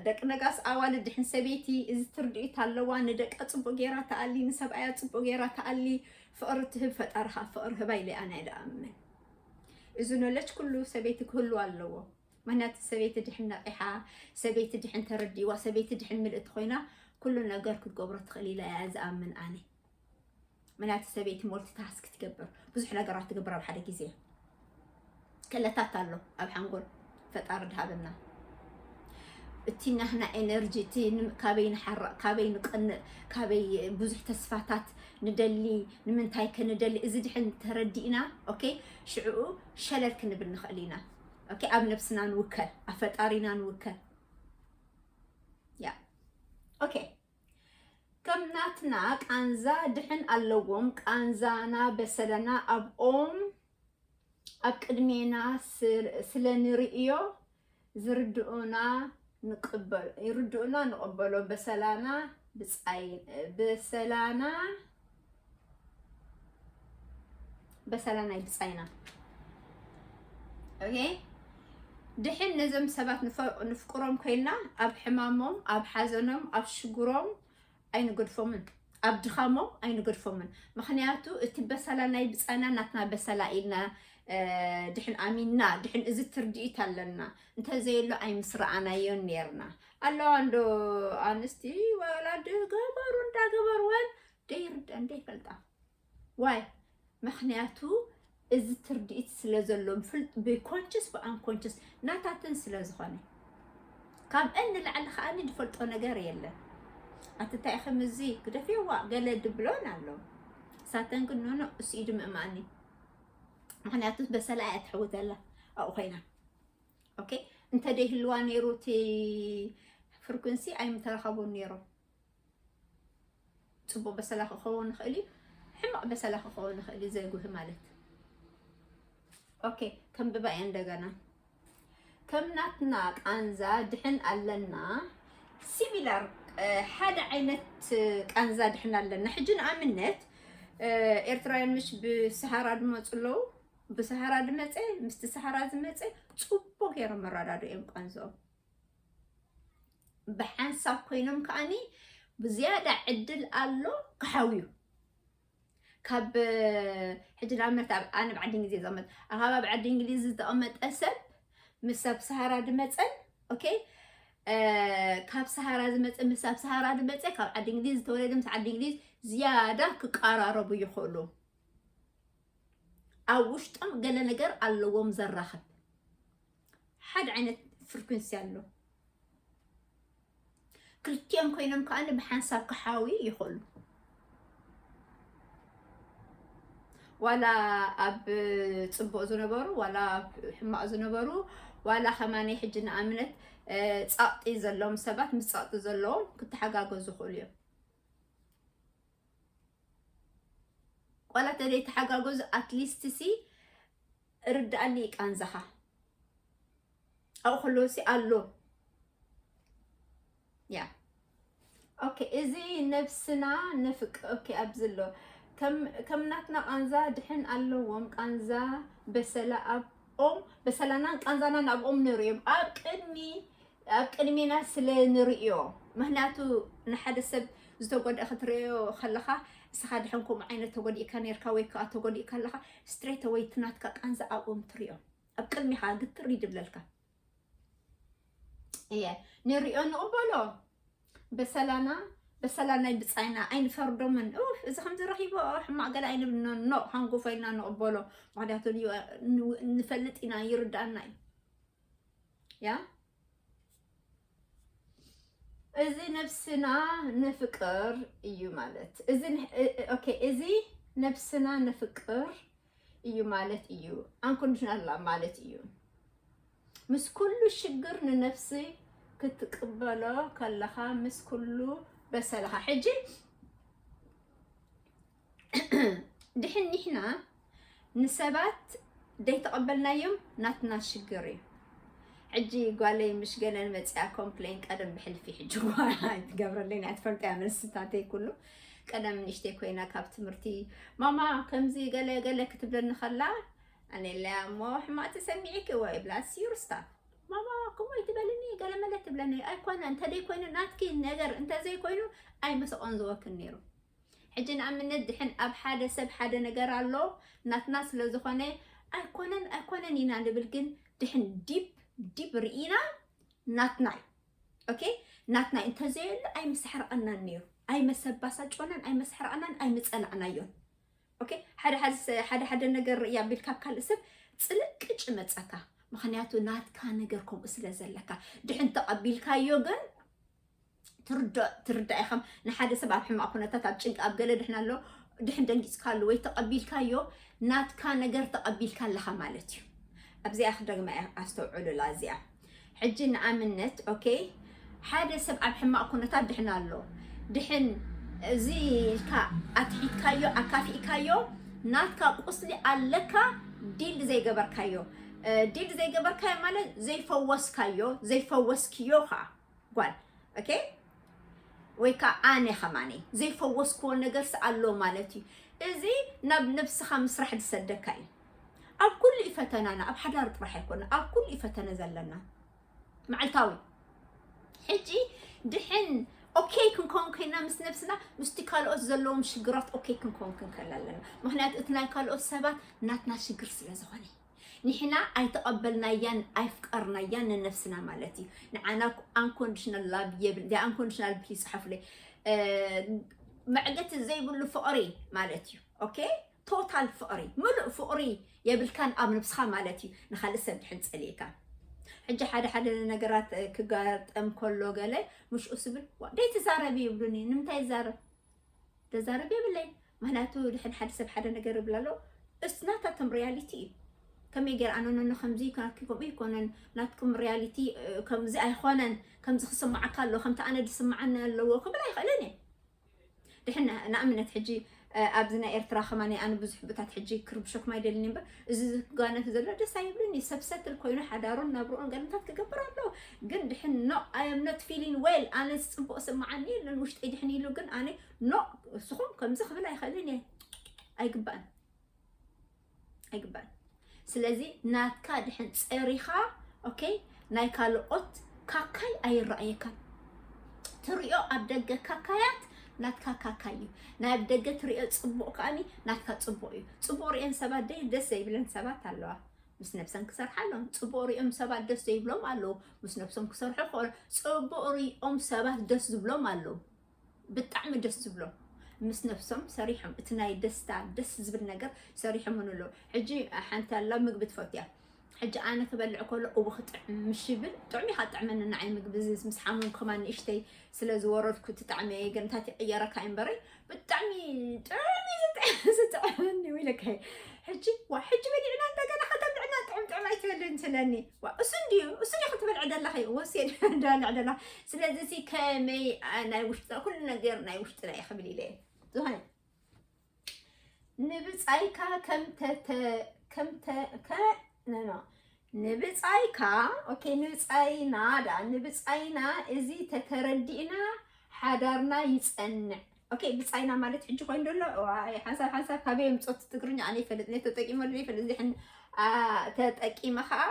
ደቂ ነጋስ ኣዋል ድሕን ሰበይቲ እዚ ትርድኢት ኣለዋ ንደቃ ፅቡቅ ጌራ ተኣሊ ንሰብኣያ ፅቡቅ ጌራ ተኣሊ ፍቅሪ ትህብ ፈጣሪ ከዓ ፍቅሪ ህባ ኢለ ኣነ ድኣምን እዚ ኖለጅ ኩሉ ሰበይቲ ክህሉ ኣለዎ። ምክንያቱ ሰበይቲ ድሕን ነቒሓ፣ ሰበይቲ ድሕን ተረዲእዋ፣ ሰበይቲ ድሕን ምልእቲ ኮይና ኩሉ ነገር ክትገብሮ ትኽእል ኢለ እያ ዝኣምን ኣነ። ምክንያቱ ሰበይቲ ሞልቲ ታስክ ትገብር፣ ብዙሕ ነገራት ትገብር ኣብ ሓደ ግዜ። ክእለታት ኣሎ ኣብ ሓንጎል ፈጣሪ ድሃበና እቲ ናህና ኤነርጂ እቲ ካበይ ንሓርቕ ካበይ ንቀንእ ካበይ ብዙሕ ተስፋታት ንደሊ ንምንታይ ከ ንደሊ እዚ ድሕን ተረዲእና ኦኬ ሽዕኡ ሸለል ክንብል ንኽእል ኢና ኦኬ ኣብ ነብስና ንውከል ኣብ ፈጣሪና ንውከል ያ ኦኬ ከም ናትና ቃንዛ ድሕን ኣለዎም ቃንዛና በሰለና ኣብኦም ኣብ ቅድሜና ስለ ንርእዮ ዝርድኡና ንቅበሎ ይርድኡና ንቅበሎ በሰላና ብጻይን በሰላና በሰላና ይብጻይና ኦኬ ድሕን ነዞም ሰባት ንፍቅሮም ኮይና ኣብ ሕማሞም ኣብ ሓዘኖም ኣብ ሽግሮም ኣይንገድፎምን ኣብ ድኻሞም ኣይንገድፎምን ምኽንያቱ እቲ በሰላ ናይ ብፃና ናትና በሰላ ኢልና ድሕን ኣሚንና ድሕን እዚ ትርድኢት ኣለና እንተዘየሎ ኣይምስረኣናዮን ነርና ኣለዋ እንዶ ኣንስቲ ወላዲ ገበሩ እንዳገበርወን ደይርደን ደይፈልጣ ዋይ መክንያቱ እዚ ትርዲኢት ስለ ዘሎም ፍልጥ ብኮንችስ ብኣንኮንችስ ናታትን ስለ ዝኮነ ካብኤን ንላዕሊ ከኣ ድፈልጦ ነገር የለን ኣቲ ታይ ከም እዚ ግደፍዋ ገለ ድብሎን ኣሎ ሳተን ግን ኖኖ እሱ ኢዱ ምእማኒ ምክንያቱ በሰላ እያ ትሕውተላ ኣብኡ ኮይና ኦኬ እንተ ደይህልዋ ነይሩ እቲ ፍርኩንሲ ኣይምተረኸቡን ነይሮም ጽቡቕ በሰላ ክኸውን ይኽእል እዩ፣ ሕማቕ በሰላ ክኸውን ይኽእል እዩ፣ ዘይጉህ ማለት ኦኬ። ከንብባ እየ እንደገና። ከም ናትና ቃንዛ ድሕን ኣለና ሲሚላር ሓደ ዓይነት ቃንዛ ድሕን ኣለና። ሕጂ ንኣብነት ኤርትራውያን ምሽ ብሰሃራ ድመፁ ኣለዉ። ብሰሃራ ድመፀ ምስቲ ሰሃራ ዝመፀ ፅቡቅ ገይሮም መረዳድኦም ቃንዝኦም ብሓንሳብ ኮይኖም ከዓኒ ብዝያዳ ዕድል ኣሎ ክሓውዩ ካብ ሕጂ ንኣብነት ኣነ ኣብ ዓዲ እንግሊዝ ዝቕመጥ ኣኻብ ኣብ ዓዲ እንግሊዝ ዝተቐመጠ ሰብ ምስ ኣብ ሰሃራ ድመፀን ኦኬ ካብ ሰሃራ ዝመፀ ምስ ኣብ ሰሃራ ዝመፀ ካብ ዓዲ እንግሊዝ ዝተወለደ ምስ ዓዲ እንግሊዝ ዝያዳ ክቀራረቡ ይኽእሉ ኣብ ውሽጦም ገለ ነገር ኣለዎም ዘራኽብ ሓደ ዓይነት ፍሪኩንሲ ኣሎ ክልቲኦም ኮይኖም ከዓ ብሓንሳብ ክሓዊ ይኽእሉ ዋላ ኣብ ፅቡቅ ዝነበሩ ዋላ ኣብ ሕማቅ ዝነበሩ ዋላ ከማነይ ሕጂ ንኣብነት ፃቕጢ ዘለዎም ሰባት ምስ ፃቕጢ ዘለዎም ክተሓጋገዙ ይኽእሉ እዮም ዋላ ተዘይ ተሓጋገዙ ኣትሊስትሲ ርድኣኒ እዩ ቃንዛኻ ኣብኡ ከለዎሲ ኣሎ ያ ኦኬ እዚ ነብስና ንፍቅ ኦኬ ኣብዚ ኣሎ ከም ናትና ቃንዛ ድሕን ኣለዎም ቃንዛ በሰላ ኣብ ኦም በሰላናን ቃንዛናን ኣብኦም ነይሩ እዮም ኣብ ቅድሚ ኣብ ቅድሚና ስለ ንርእዮ ምክንያቱ ንሓደ ሰብ ዝተጎድኣ ክትርእዮ ከለኻ እስኻ ድሕን ከምኡ ዓይነት ተጎዲእካ ነርካ ወይ ከዓ ተጎዲእካ ኣለኻ ስትሬተ ወይ ትናትካ ቃንዛ ኣብኦም ትሪኦ ኣብ ቅድሚኻ ግትር ይድብለልካ እየ ንሪኦ ንቕበሎ በሰላና በሰላ ናይ ብፃይና ኣይንፈርዶምን እዚ ከምዚ ረኪቦ ሕማቅ ገለ ኣይንብልኖ ኖ ሃንጎፋ ኢልና ንቕበሎ ምክንያቱ ንፈልጥ ኢና ይርዳእና እዩ ያ እዚ ነብስና ንፍቅር እዩ ማለት እዚ ኦኬ እዚ ነብስና ንፍቅር እዩ ማለት እዩ ኣንኮንዲሽናል ላቭ ማለት እዩ ምስ ኩሉ ሽግር ንነፍሲ ክትቅበሎ ከለኻ ምስ ኩሉ በሰልኻ ሕጂ ድሕን ኒሕና ንሰባት ደይተቐበልናዮም ናትና ሽግር እዩ። ሕጂ ጓለይ ምሽ ገለን መፅያ ኮምፕሌን ቀደም ብሕልፊ ሕጂ ኣይትገብረለይን እያ ትፈልጠያ መልስታተይ ኩሉ ቀደም ንእሽተይ ኮይና ካብ ትምህርቲ ማማ ከምዚ ገለ ገለ ክትብለኒ ከላ ኣነለያ እሞ ሕማቅ ተሰሚዒኪ ወይ ብላ ሲዩር ስታፍ ማማ ከምኡ ኣይትበልኒ ገለ መለ ትብለኒ ኣይኮነ እንተደይኮይኑ ናትኪ ነገር እንተዘይኮይኑ ኣይምሰቆን ዝወክን ነይሩ ሕጂ ንኣብነት ድሕን ኣብ ሓደ ሰብ ሓደ ነገር ኣሎ ናትና ስለ ዝኾነ ኣይኮነን ኣይኮነን ኢና ንብል ግን ድሕን ዲብ ዲብ ርኢና ናትና እዩ ኦኬ ናትና እንተዘየሉ ኣይምሰሕረቐናን ነይሩ ኣይመሰባሳጮናን ኣይመሰሕረቐናን ኣይምጸላዕናዮን ኦኬ ሓደ ሓደ ሓደ ነገር ርእያ ኣቢል ካብ ካልእ ሰብ ጽልቅጭ መጸካ ምክንያቱ ናትካ ነገር ከምኡ ስለ ዘለካ ድሕን ተቐቢልካዮ ግን ትርዳእ ትርዳእ ኢኻም ንሓደ ሰብ ኣብ ሕማቕ ኩነታት ኣብ ጭንቂ ኣብ ገለ ድሕና ኣሎ ድሕን ደንጊጽካሉ ወይ ተቐቢልካዮ ናትካ ነገር ተቐቢልካ ኣለኻ ማለት እዩ ኣብዚኣ ክደግማ እያ ኣስተውዕሉላ እዚኣ ሕጂ ንኣብነት ኦኬ ሓደ ሰብ ኣብ ሕማቕ ኩነታት ድሕን ኣሎ ድሕን እዚ ኢልካ ኣትሒትካዮ ኣካፊእካዮ ናትካ ቁስሊ ኣለካ ዲል ዘይገበርካዮ ዲል ዘይገበርካዮ ማለት ዘይፈወስካዮ ዘይፈወስክዮ ኸዓ ጓል ኦኬ ወይ ከዓ ኣነ ከማኒ ዘይፈወስክዎ ነገርስ ኣሎ ማለት እዩ እዚ ናብ ነብስኻ ምስራሕ ዝሰደካ እዩ ኣብ ኩሉ እዩ ፈተናና ኣብ ሓዳር ጥራሕ ኣይኮነ ኣብ ኩሉ እዩ ፈተነ ዘለና መዓልታዊ ሕጂ ድሕን ኦኬ ክንከውን ኮይና ምስ ነብስና ምስቲ ካልኦት ዘለዎም ሽግራት ኦኬ ክንከውን ክንከል ኣለና ምክንያቱ እቲ ናይ ካልኦት ሰባት ናትና ሽግር ስለ ዝኾነ ንሕና ኣይተቀበልናያን ኣይፍቀርናያን ንነብስና ማለት እዩ ንዓና ኣንኮንዲሽናል ላብ የብል ዳይ ኣንኮንዲሽናል ፕሊዝ ጻሓፉለይ መዕገቲ ዘይብሉ ፍቅሪ ማለት እዩ ኦኬ ቶታል ፍቅሪ ምሉእ ፍቅሪ የብልካን ኣብ ነብስካ ማለት እዩ ንካልእ ሰብ ድሕን ጸሊእካ ሕጂ ሓደ ሓደ ነገራት ክጋጠም ከሎ ገለ ምሽኡ ስብል ደይ ትዛረብ ይብሉኒ ንምንታይ ይዛረብ ዘዛርብ የብለይን ምክንያቱ ድሕን ሓደ ሰብ ሓደ ነገር ይብል ኣሎ እስ ናታቶም ሪያሊቲ እዩ ከመይ ገይራ ኣነነኖ ከምዚ እዩ ናትኪ ከምኡ ኣይኮነን ናትኩም ሪያሊቲ ከምዚ ኣይኮነን ከምዚ ክስምዓካ ኣለዎ ከምቲ ኣነ ዝስምዓኒ ኣለዎ ክብል ኣይኽእልን እየ ድሕን ንኣብነት ሕጂ ኣብዚ ናይ ኤርትራ ከማን ኣነ ብዙሕ ብታት ሕጂ ክርብሸኩም ኣይደልን እምበር እዚ ዝጋነፍ ዘሎ ደስ ኣይብልን እዩ። ሰብ ሰትል ኮይኑ ሓዳሩን ናብርኡን ገልምታት ክገብር ኣሎ። ግን ድሕን ኖ ኣይ ኣም ኖት ፊሊን ዌል ኣነ ዝፅቡቕ ስምዓኒ የለን ውሽጠይ ድሕን ኢሉ ግን ኣነ ኖ እስኹም ከምዚ ክብል ኣይኽእልን እየ ኣይግባእን ኣይግባእን ስለዚ ናትካ ድሕን ፀሪኻ ኦኬ ናይ ካልኦት ካካይ ኣይራኣየካን ትሪኦ ኣብ ደገ ካካያት ናትካ ካካይ እዩ ናይ ኣብ ደገ ትሪኦ ጽቡቅ ከኣኒ ናትካ ጽቡቅ እዩ ጽቡቅ ሪኤን ሰባት ደይ ደስ ዘይብለን ሰባት ኣለዋ ምስ ነብሰን ክሰርሓ ኣለዎን ጽቡቅ ሪኦም ሰባት ደስ ዘይብሎም ኣለዉ ምስ ነብሶም ክሰርሑ ክኾኑ ጽቡቅ ሪኦም ሰባት ደስ ዝብሎም ኣለዉ ብጣዕሚ ደስ ዝብሎም ምስ ነብሶም ሰሪሖም እቲ ናይ ደስታ ደስ ዝብል ነገር ሰሪሖም ንሎ ሕጂ ሓንቲ ኣላ ምግቢ ትፈትያ ሕጂ ኣነ ክበልዕ ከሎ እው ክጥዕም ምሽ ይብል ጥዑም ኢኻ ጥዕመኒ ንዓይ ምግቢ እዚ ምስ ሓሙም ከማን ንእሽተይ ስለ ዝወረድኩ እቲ ጣዕሚ እየ ግን እንታይ ትቕየረካ እዩ እምበረይ ብጣዕሚ ጥዑም እዩ ዝጥዕ- ዝጥዕመኒ እዩ ኢለካ እየ። ሕጂ ዋ ሕጂ በሊዕና እንደገና ከተብልዕና ጥዑም ጥዑም ኣይትበልን ስለኒ ዋ እሱ እንድዩ እሱ ድዩ ክትበልዕ ደለኺ ወሴድ ዳልዕ ደላ ስለዚ ሲ ከመይ ናይ ውሽጥና ኩሉ ነገር ናይ ውሽጥና እዩ ክብል ኢለ ዝኾነ ንብፃይካ ንብፃይካ ኦኬ ንብፃይና ዳ ንብፃይና እዚ ተተረዲእና ሓዳርና ይፀንዕ ኦኬ ብፃይና ማለት ሕጂ ኮይኑ ደሎ ዋይ ሓንሳብ ሓንሳብ ካበይ የምፆት ትግርኛ ኣነ ይፈልጥ ነ ተጠቂመሉ ይፈልጥ ዚሕን ተጠቂመ ከዓ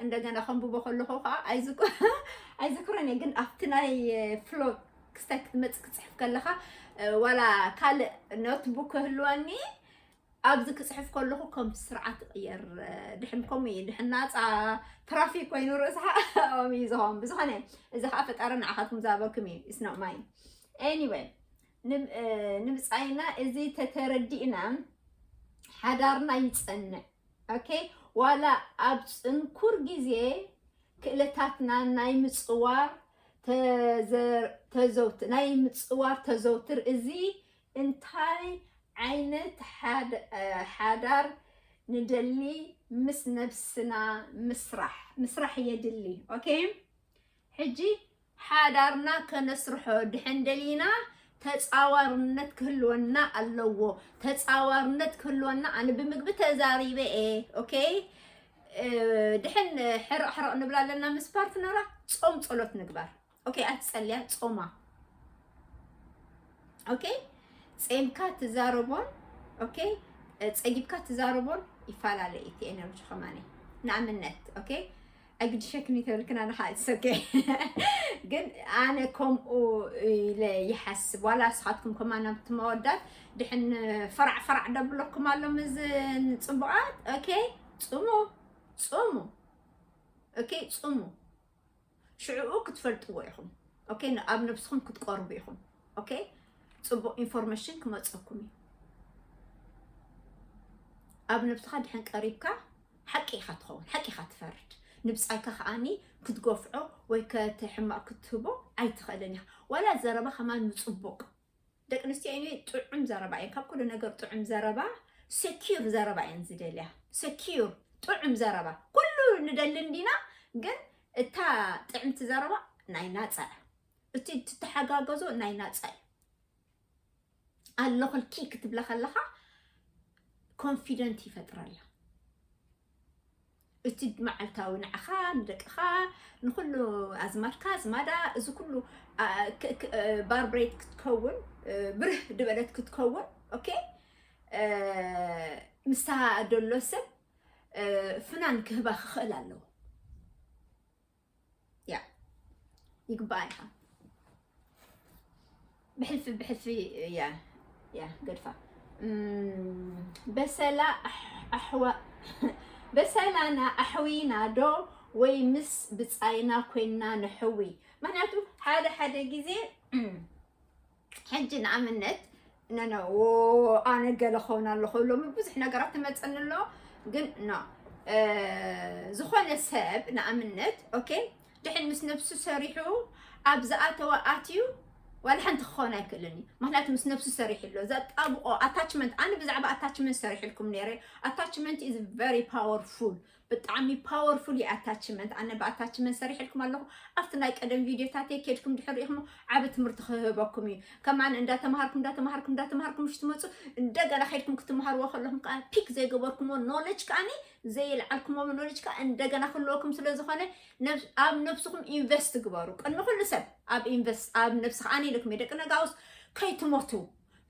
እንደገና ከንብቦ ከለኹ ከዓ ኣይዝክ- ኣይዝክሮን እየ ግን ኣብቲ ናይ ፍሎ ክስታይ ክትመፅእ ክፅሕፍ ከለካ እ፣ ዋላ ካልእ ኖትቡክ ክህልወኒ ኣብዚ ክፅሕፍ ከለኹ ከም ስርዓት ይቕየር እ፣ ድሕን ከምኡ እዩ ድሕን ናፃ ትራፊክ ኮይኑ ርእስኻ ኣኦም እዩ ዝኸውን ብዝኾነ እዚ ከዓ ፈጣሪ ንዓኻትኩም ዝሃበኩም እዩ ኢስኖ ማይ ኤኒወይ ንም- እ፣ ንምፃኢና እዚ ተተረዲእና ሓዳርና ይፀንዕ ኦኬ ዋላ ኣብ ጽንኩር ግዜ ክእለታትና ናይ ምጽዋር ተዘውት ናይ ምጽዋር ተዘውትር እዚ እንታይ ዓይነት ሓዳር ንደሊ ምስ ነብስና ምስራሕ ምስራሕ የድሊ ኦኬ ሕጂ ሓዳርና ከነስርሖ ድሕን ደሊና ተጻዋርነት ክህልወና ኣለዎ። ተጻዋርነት ክህልወና ኣነ ብምግቢ ተዛሪበ እየ ኦኬ ድሕን ሕርቕ ሕርቕ ንብል ኣለና ምስ ፓርትነራ ጾም ጸሎት ንግባር ኦኬ ኣትጸልያ ጾማ ኦኬ ጼምካ ትዛረቦን ኦኬ ጸጊብካ ትዛረቦን ይፈላለ እቲ ኤነርጂ ከማኒ ንኣብነት ኦኬ ኣይግድሸክን ተብልክን ኣነ ከዓ እትሰገ ግን ኣነ ከምኡ ኢለ ይሓስብ ዋላ ንስኻትኩም ከማና ብትመወዳት ድሕን ፈራዕ ፈራዕ ደብለኩም ኣሎ ምዝ ንፅቡቃት ኦኬ ፅሙ ፅሙ ኦኬ ፅሙ ሽዕኡ ክትፈልጥዎ ኢኹም ኦኬ ኣብ ነብስኹም ክትቀርቡ ኢኹም ኦኬ ፅቡቅ ኢንፎርሜሽን ክመፀኩም እዩ ኣብ ነብስኻ ድሕን ቀሪብካ ሓቂ ኢኻ ትኸውን ሓቂ ኢኻ ትፈርድ ንብጻይካ ከኣኒ ክትጎፍዖ ወይ ከቲ ሕማቅ ክትህቦ ኣይትኽእልን ኢኻ ዋላ ዘረባ ከማን ምጽቡቅ ደቂ ኣንስትዮ ኤኒወይ ጥዑም ዘረባ እየን ካብ ኩሉ ነገር ጥዑም ዘረባ ሰኪር ዘረባ እየን ዝደልያ ሰኪር ጥዑም ዘረባ ኩሉ ንደሊ እንዲና ግን እታ ጥዕምቲ ዘረባ ናይ ናጻ እቲ ትተሓጋገዞ ናይ ናጻ እዩ ኣለኹልኪ ክትብላ ከለኻ ኮንፊደንት ይፈጥረላ እቲ መዓልታዊ ንዓኻ ንደቅኻ ንኩሉ ኣዝማድካ ኣዝማዳ እዚ ኩሉ ባርብሬት ክትከውን ብርህ ድበለት ክትከውን ኦኬ ምስታ ደሎ ሰብ ፍናን ክህባ ክኽእል ኣለዎ ያ ይግባኣ ኢኻ ብሕልፊ ብሕልፊ ያ ያ ገድፋ በሰላ ኣሕዋ በሰላና ኣሕዊና ዶ ወይ ምስ ብፃይና ኮይና ንሕዊ ምክንያቱ ሓደ ሓደ ግዜ ሕጂ ንኣብነት ነነ ኣነ ገለ ክኸውን ኣለኹ ሎሚ ብዙሕ ነገራት ትመፅኒ ኣሎ ግን ኖ ዝኾነ ሰብ ንኣብነት ኦኬ ድሕን ምስ ነብሱ ሰሪሑ ኣብ ዝኣተወ ኣትዩ ዋላ ሓንቲ ክኸውን ኣይክእልን እዩ ምክንያቱ ምስ ነብሱ ሰሪሑ ኣሎ ዘጣብቆ ኣታችመንት ኣነ ብዛዕባ ኣታችመንት ሰሪሕልኩም ነይረ ኣታችመንት ኢዝ ቨሪ ፓወርፉል ብጣዕሚ ፓወርፉል እዩ ኣታችመንት ኣነ ብኣታችመንት ሰሪሕልኩም ኣለኹ ኣብቲ ናይ ቀደም ቪድዮታተይ ኬድኩም ድሕር ሪኢኹም ዓብ ትምህርቲ ክህበኩም እዩ ከማን እንዳተምሃርኩም እንዳተምሃርኩም እንዳተምሃርኩም ሽ ትመፁ እንደገና ኬድኩም ክትምሃርዎ ከለኹም ከዓ ፒክ ዘይገበርኩምዎ ኖለጅ ከዓኒ ዘየልዓልኩምዎ ኖለጅ ከዓ እንደገና ክህልወኩም ስለ ዝኾነ ኣብ ነብስኹም ኢንቨስት ግበሩ ቅድሚ ኩሉ ሰብ ኣብ ኢንቨስት ኣብ ነብሲ ከዓ ኢልኩም ደቂ ነጋውስ ከይትሞቱ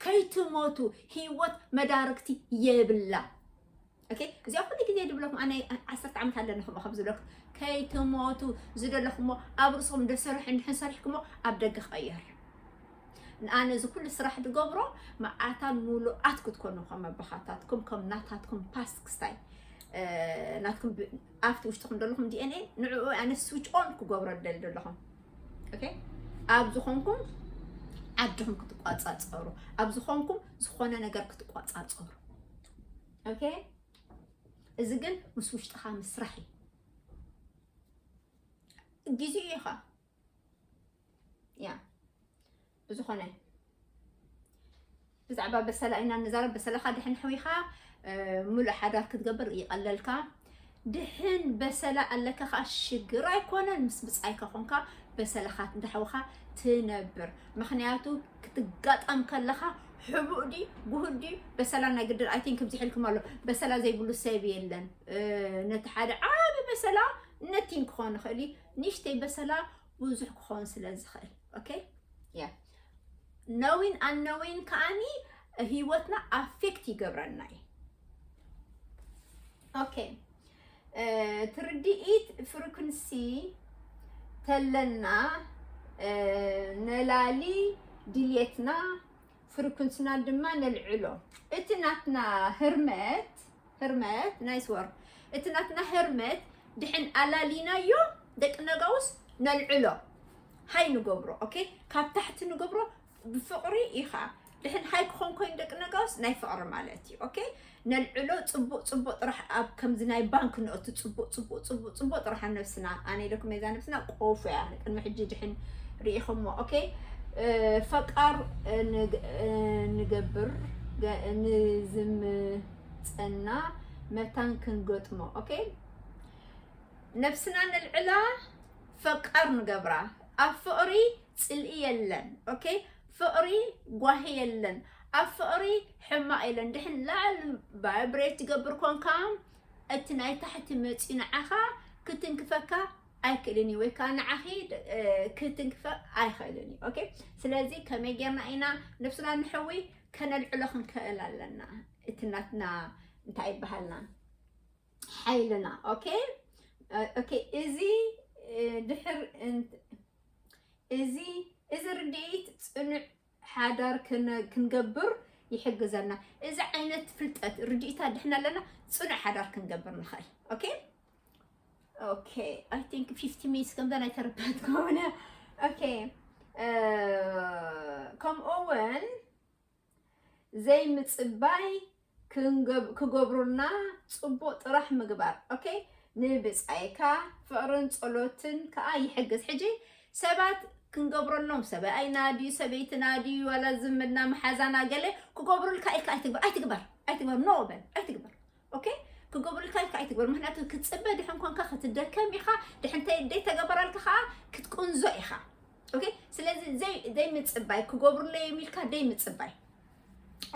ከይትሞቱ ህይወት መዳርግቲ የብላ ኦኬ እዚኣ ኩሉ ግዜ ድብለኩም ኣነ ዓሰርተ ዓመት ኣለኒ ከምኡ ከም ዝበለኩም ከይትሞቱ ዝደለኹሞ ኣብ ርእስኹም ደሰርሑ እንድሕን ሰሪሕኩሞ ኣብ ደገ ክቕየር ኣነ እዚ ኩሉ ስራሕ ድገብሮ መዓልታን ሙሉኣት ክትኮኑ ከም ኣባኻታትኩም ከም ናታትኩም ፓስክስታይ ናትኩም ኣብቲ ውሽጥኹም ዘለኹም ዲኤንኤ ንዕኡ ኣነ ስዊች ኦን ክገብሮ ደሊ ዘለኹም ኦኬ ኣብ ዝኾንኩም ዓድኹም ክትቋፃፀሩ ኣብ ዝኾንኩም ዝኾነ ነገር ክትቋፃፀሩ ኦኬ እዚ ግን ምስ ውሽጥኻ ምስራሕ እዩ ግዜ እዩ ኸ ያ ብዝኾነ ብዛዕባ በሰላ ኢና ንዛረብ በሰላኻ ድሕን ሕዊኻ ሙሉእ ሓዳር ክትገብር ይቐለልካ ድሕን በሰላ ኣለካ ከኣ ሽግር ኣይኮነን ምስ ብጻይካ ኮንካ በሰላኻ እንዳሕውኻ ትነብር ምክንያቱ ክትጋጠም ከለኻ ሕቡእ ዲ ጉሁድ ዲ በሰላ ናይ ግድን ኣይ ቲንክ ብዚ ሕልኩም ኣሎ በሰላ ዘይብሉ ሰብ የለን ነቲ ሓደ ዓቢ በሰላ ነቲን ክኾን ይኽእል እዩ ንእሽተይ በሰላ ብዙሕ ክኾን ስለ ዝኽእል ኦኬ ያ ነዊን ኣነዊን ከዓኒ ህይወትና ኣፌክት ይገብረና እዩ ኦኬ ትርድኢት ፍሪኩንሲ ተለና ነላሊ ድልየትና ፍሪኩንስና ድማ ነልዕሎ እቲ ናትና ህርመት ህርመት ናይስ ወር እቲ ናትና ህርመት ድሕን ኣላሊናዮ ደቂ ነጋውስ ነልዕሎ ሃይ ንገብሮ ኦኬ ካብ ታሕቲ ንገብሮ ብፍቕሪ እዩ ከዓ ድሕን ሃይ ክኾን ኮይኑ ደቂ ነጋውስ ናይ ፍቕሪ ማለት እዩ ኦኬ ነልዕሎ ፅቡቅ ፅቡቅ ጥራሕ ኣብ ከምዚ ናይ ባንክ ንእቱ ፅቡቅ ፅቡቅ ፅቡቅ ፅቡቅ ጥራሕ ኣብ ነብስና ኣነ ኢለኩም እዛ ነብስና ቆፎ እያ ቅድሚ ሕጂ ድሕን ርኢኹሞ ኦኬ ፈቃር ንገብር ንዝምፀና መታን ክንገጥሞ ኦኬ ነብስና ነልዕላ ፈቃር ንገብራ ኣብ ፍቅሪ ጽልኢ የለን ok ፍቅሪ ጓሂ የለን ኣብ ፍቅሪ ሕማቅ የለን ድሕን ላዕል ቫይብሬት ትገብር ኮንካ እቲ ናይ ታሕቲ መጽዩ ንዓካ ክትንክፈካ ኣይክእልን እዩ ወይ ከዓ ንዓኺ ክትንክፈ ኣይክእልን እዩ ኦኬ ስለዚ ከመይ ጌርና ኢና ነብስና ንሕዊ ከነልዕሎ ክንክእል ኣለና እቲ ናትና እንታይ ይበሃልና ሓይልና ኦኬ ኦኬ እዚ ድሕር እዚ እዚ ርድኢት ፅኑዕ ሓዳር ክንገብር ይሕግዘና እዚ ዓይነት ፍልጠት ርድኢት ኣድሕና ኣለና ፅኑዕ ሓዳር ክንገብር ንኽእል ኦኬ ኦኬ ኣይ ቲንክ ፊፍቲ ሚኒትስ ከምዛ ናይ ተረዳት ከሆነ ኦኬ ከምኡ እውን ዘይምጽባይ ክገብሩልና ጽቡቅ ጥራሕ ምግባር ኦኬ ንብጻይካ ፍቅርን ጸሎትን ከኣ ይሕግዝ ሕጂ ሰባት ክንገብረሎም ሰብኣይና ድዩ ሰበይትና ድዩ ዋላ ዝምድና መሓዛና ገለ ክገብሩልካ ኢልካ ኣይትግበር ኣይትግበር ኣይትግበር ኖ በል ኣይትግበር ኦኬ ክገብሩልካ ኢልካ ኣይትግበር ምክንያቱ ክትፅበ ድሕን ኮንካ ክትደከም ኢኻ ድሕን ደይተገበረልካ ከዓ ክትቁንዞ ኢኻ ኦኬ ስለዚ ዘይምፅባይ ክገብሩለይ የሚልካ ደይምፅባይ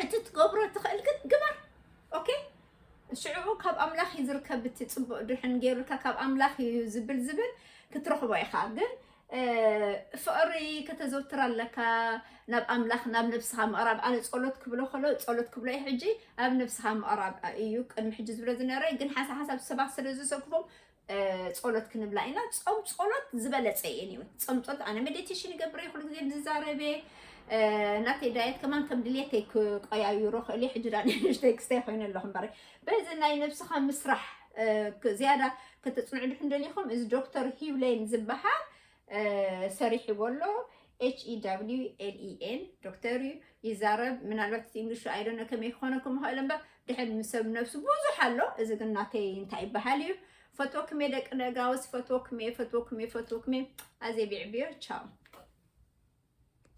እቲ ትገብሮ ትኽእል ግን ግበር ኦኬ ሽዑ ካብ ኣምላኽ እዩ ዝርከብ እቲ ፅቡቅ ድሕን ገይሩልካ ካብ ኣምላኽ እዩ ዝብል ዝብል ክትረኽቦ ኢኻ ግን ፍቕሪ ከተዘውትር ኣለካ ናብ ኣምላኽ ናብ ነብስኻ ምቕራብ ኣነ ጸሎት ክብሎ ከሎ ጸሎት ክብሎ እዩ ሕጂ ኣብ ነብስኻ ምቕራብ እዩ ቅድሚ ሕጂ ዝብሎ ዝነበረ ግን ሓሳ ሓሳብ ሰባት ስለ ዝሰክፎም ጸሎት ክንብላ ኢና ጾም ጸሎት ዝበለጸ እየን እዩ ጾም ጸሎት ኣነ ሜዲቴሽን ይገብር እየ ኩሉ ግዜ ዝዛረበ ናተይ ዳየት ከማን ከም ድሌተይ ክቆያይሮ ክእል እየ ሕጂ ዳ ንእሽተይ ክስተይ ኮይነ ኣለኹ እምበር በዚ ናይ ነብስኻ ምስራሕ ዝያዳ ከተፅንዑ ድሕን ደሊኹም እዚ ዶክተር ሂውሌን ዝበሃል ሰሪሕዎ ኣሎ ኤችኢዳብሊውኤልኢኤን ዶክተር እዩ ይዛረብ ምናልባት እቲ እንግሊሹ ኣይደነ ከመይ ክኾነኩም ይኽእል እምበር ድሕን ምሰብ ነብሱ ብዙሕ ኣሎ እዚ ግን ናተይ እንታይ ይበሃል እዩ ፈትወኩም እየ ደቂ ደጋውስ ፈትወኩም እየ ፈትወኩም እየ ፈትወኩም እየ ኣዜ ቢዕብዮ ቻው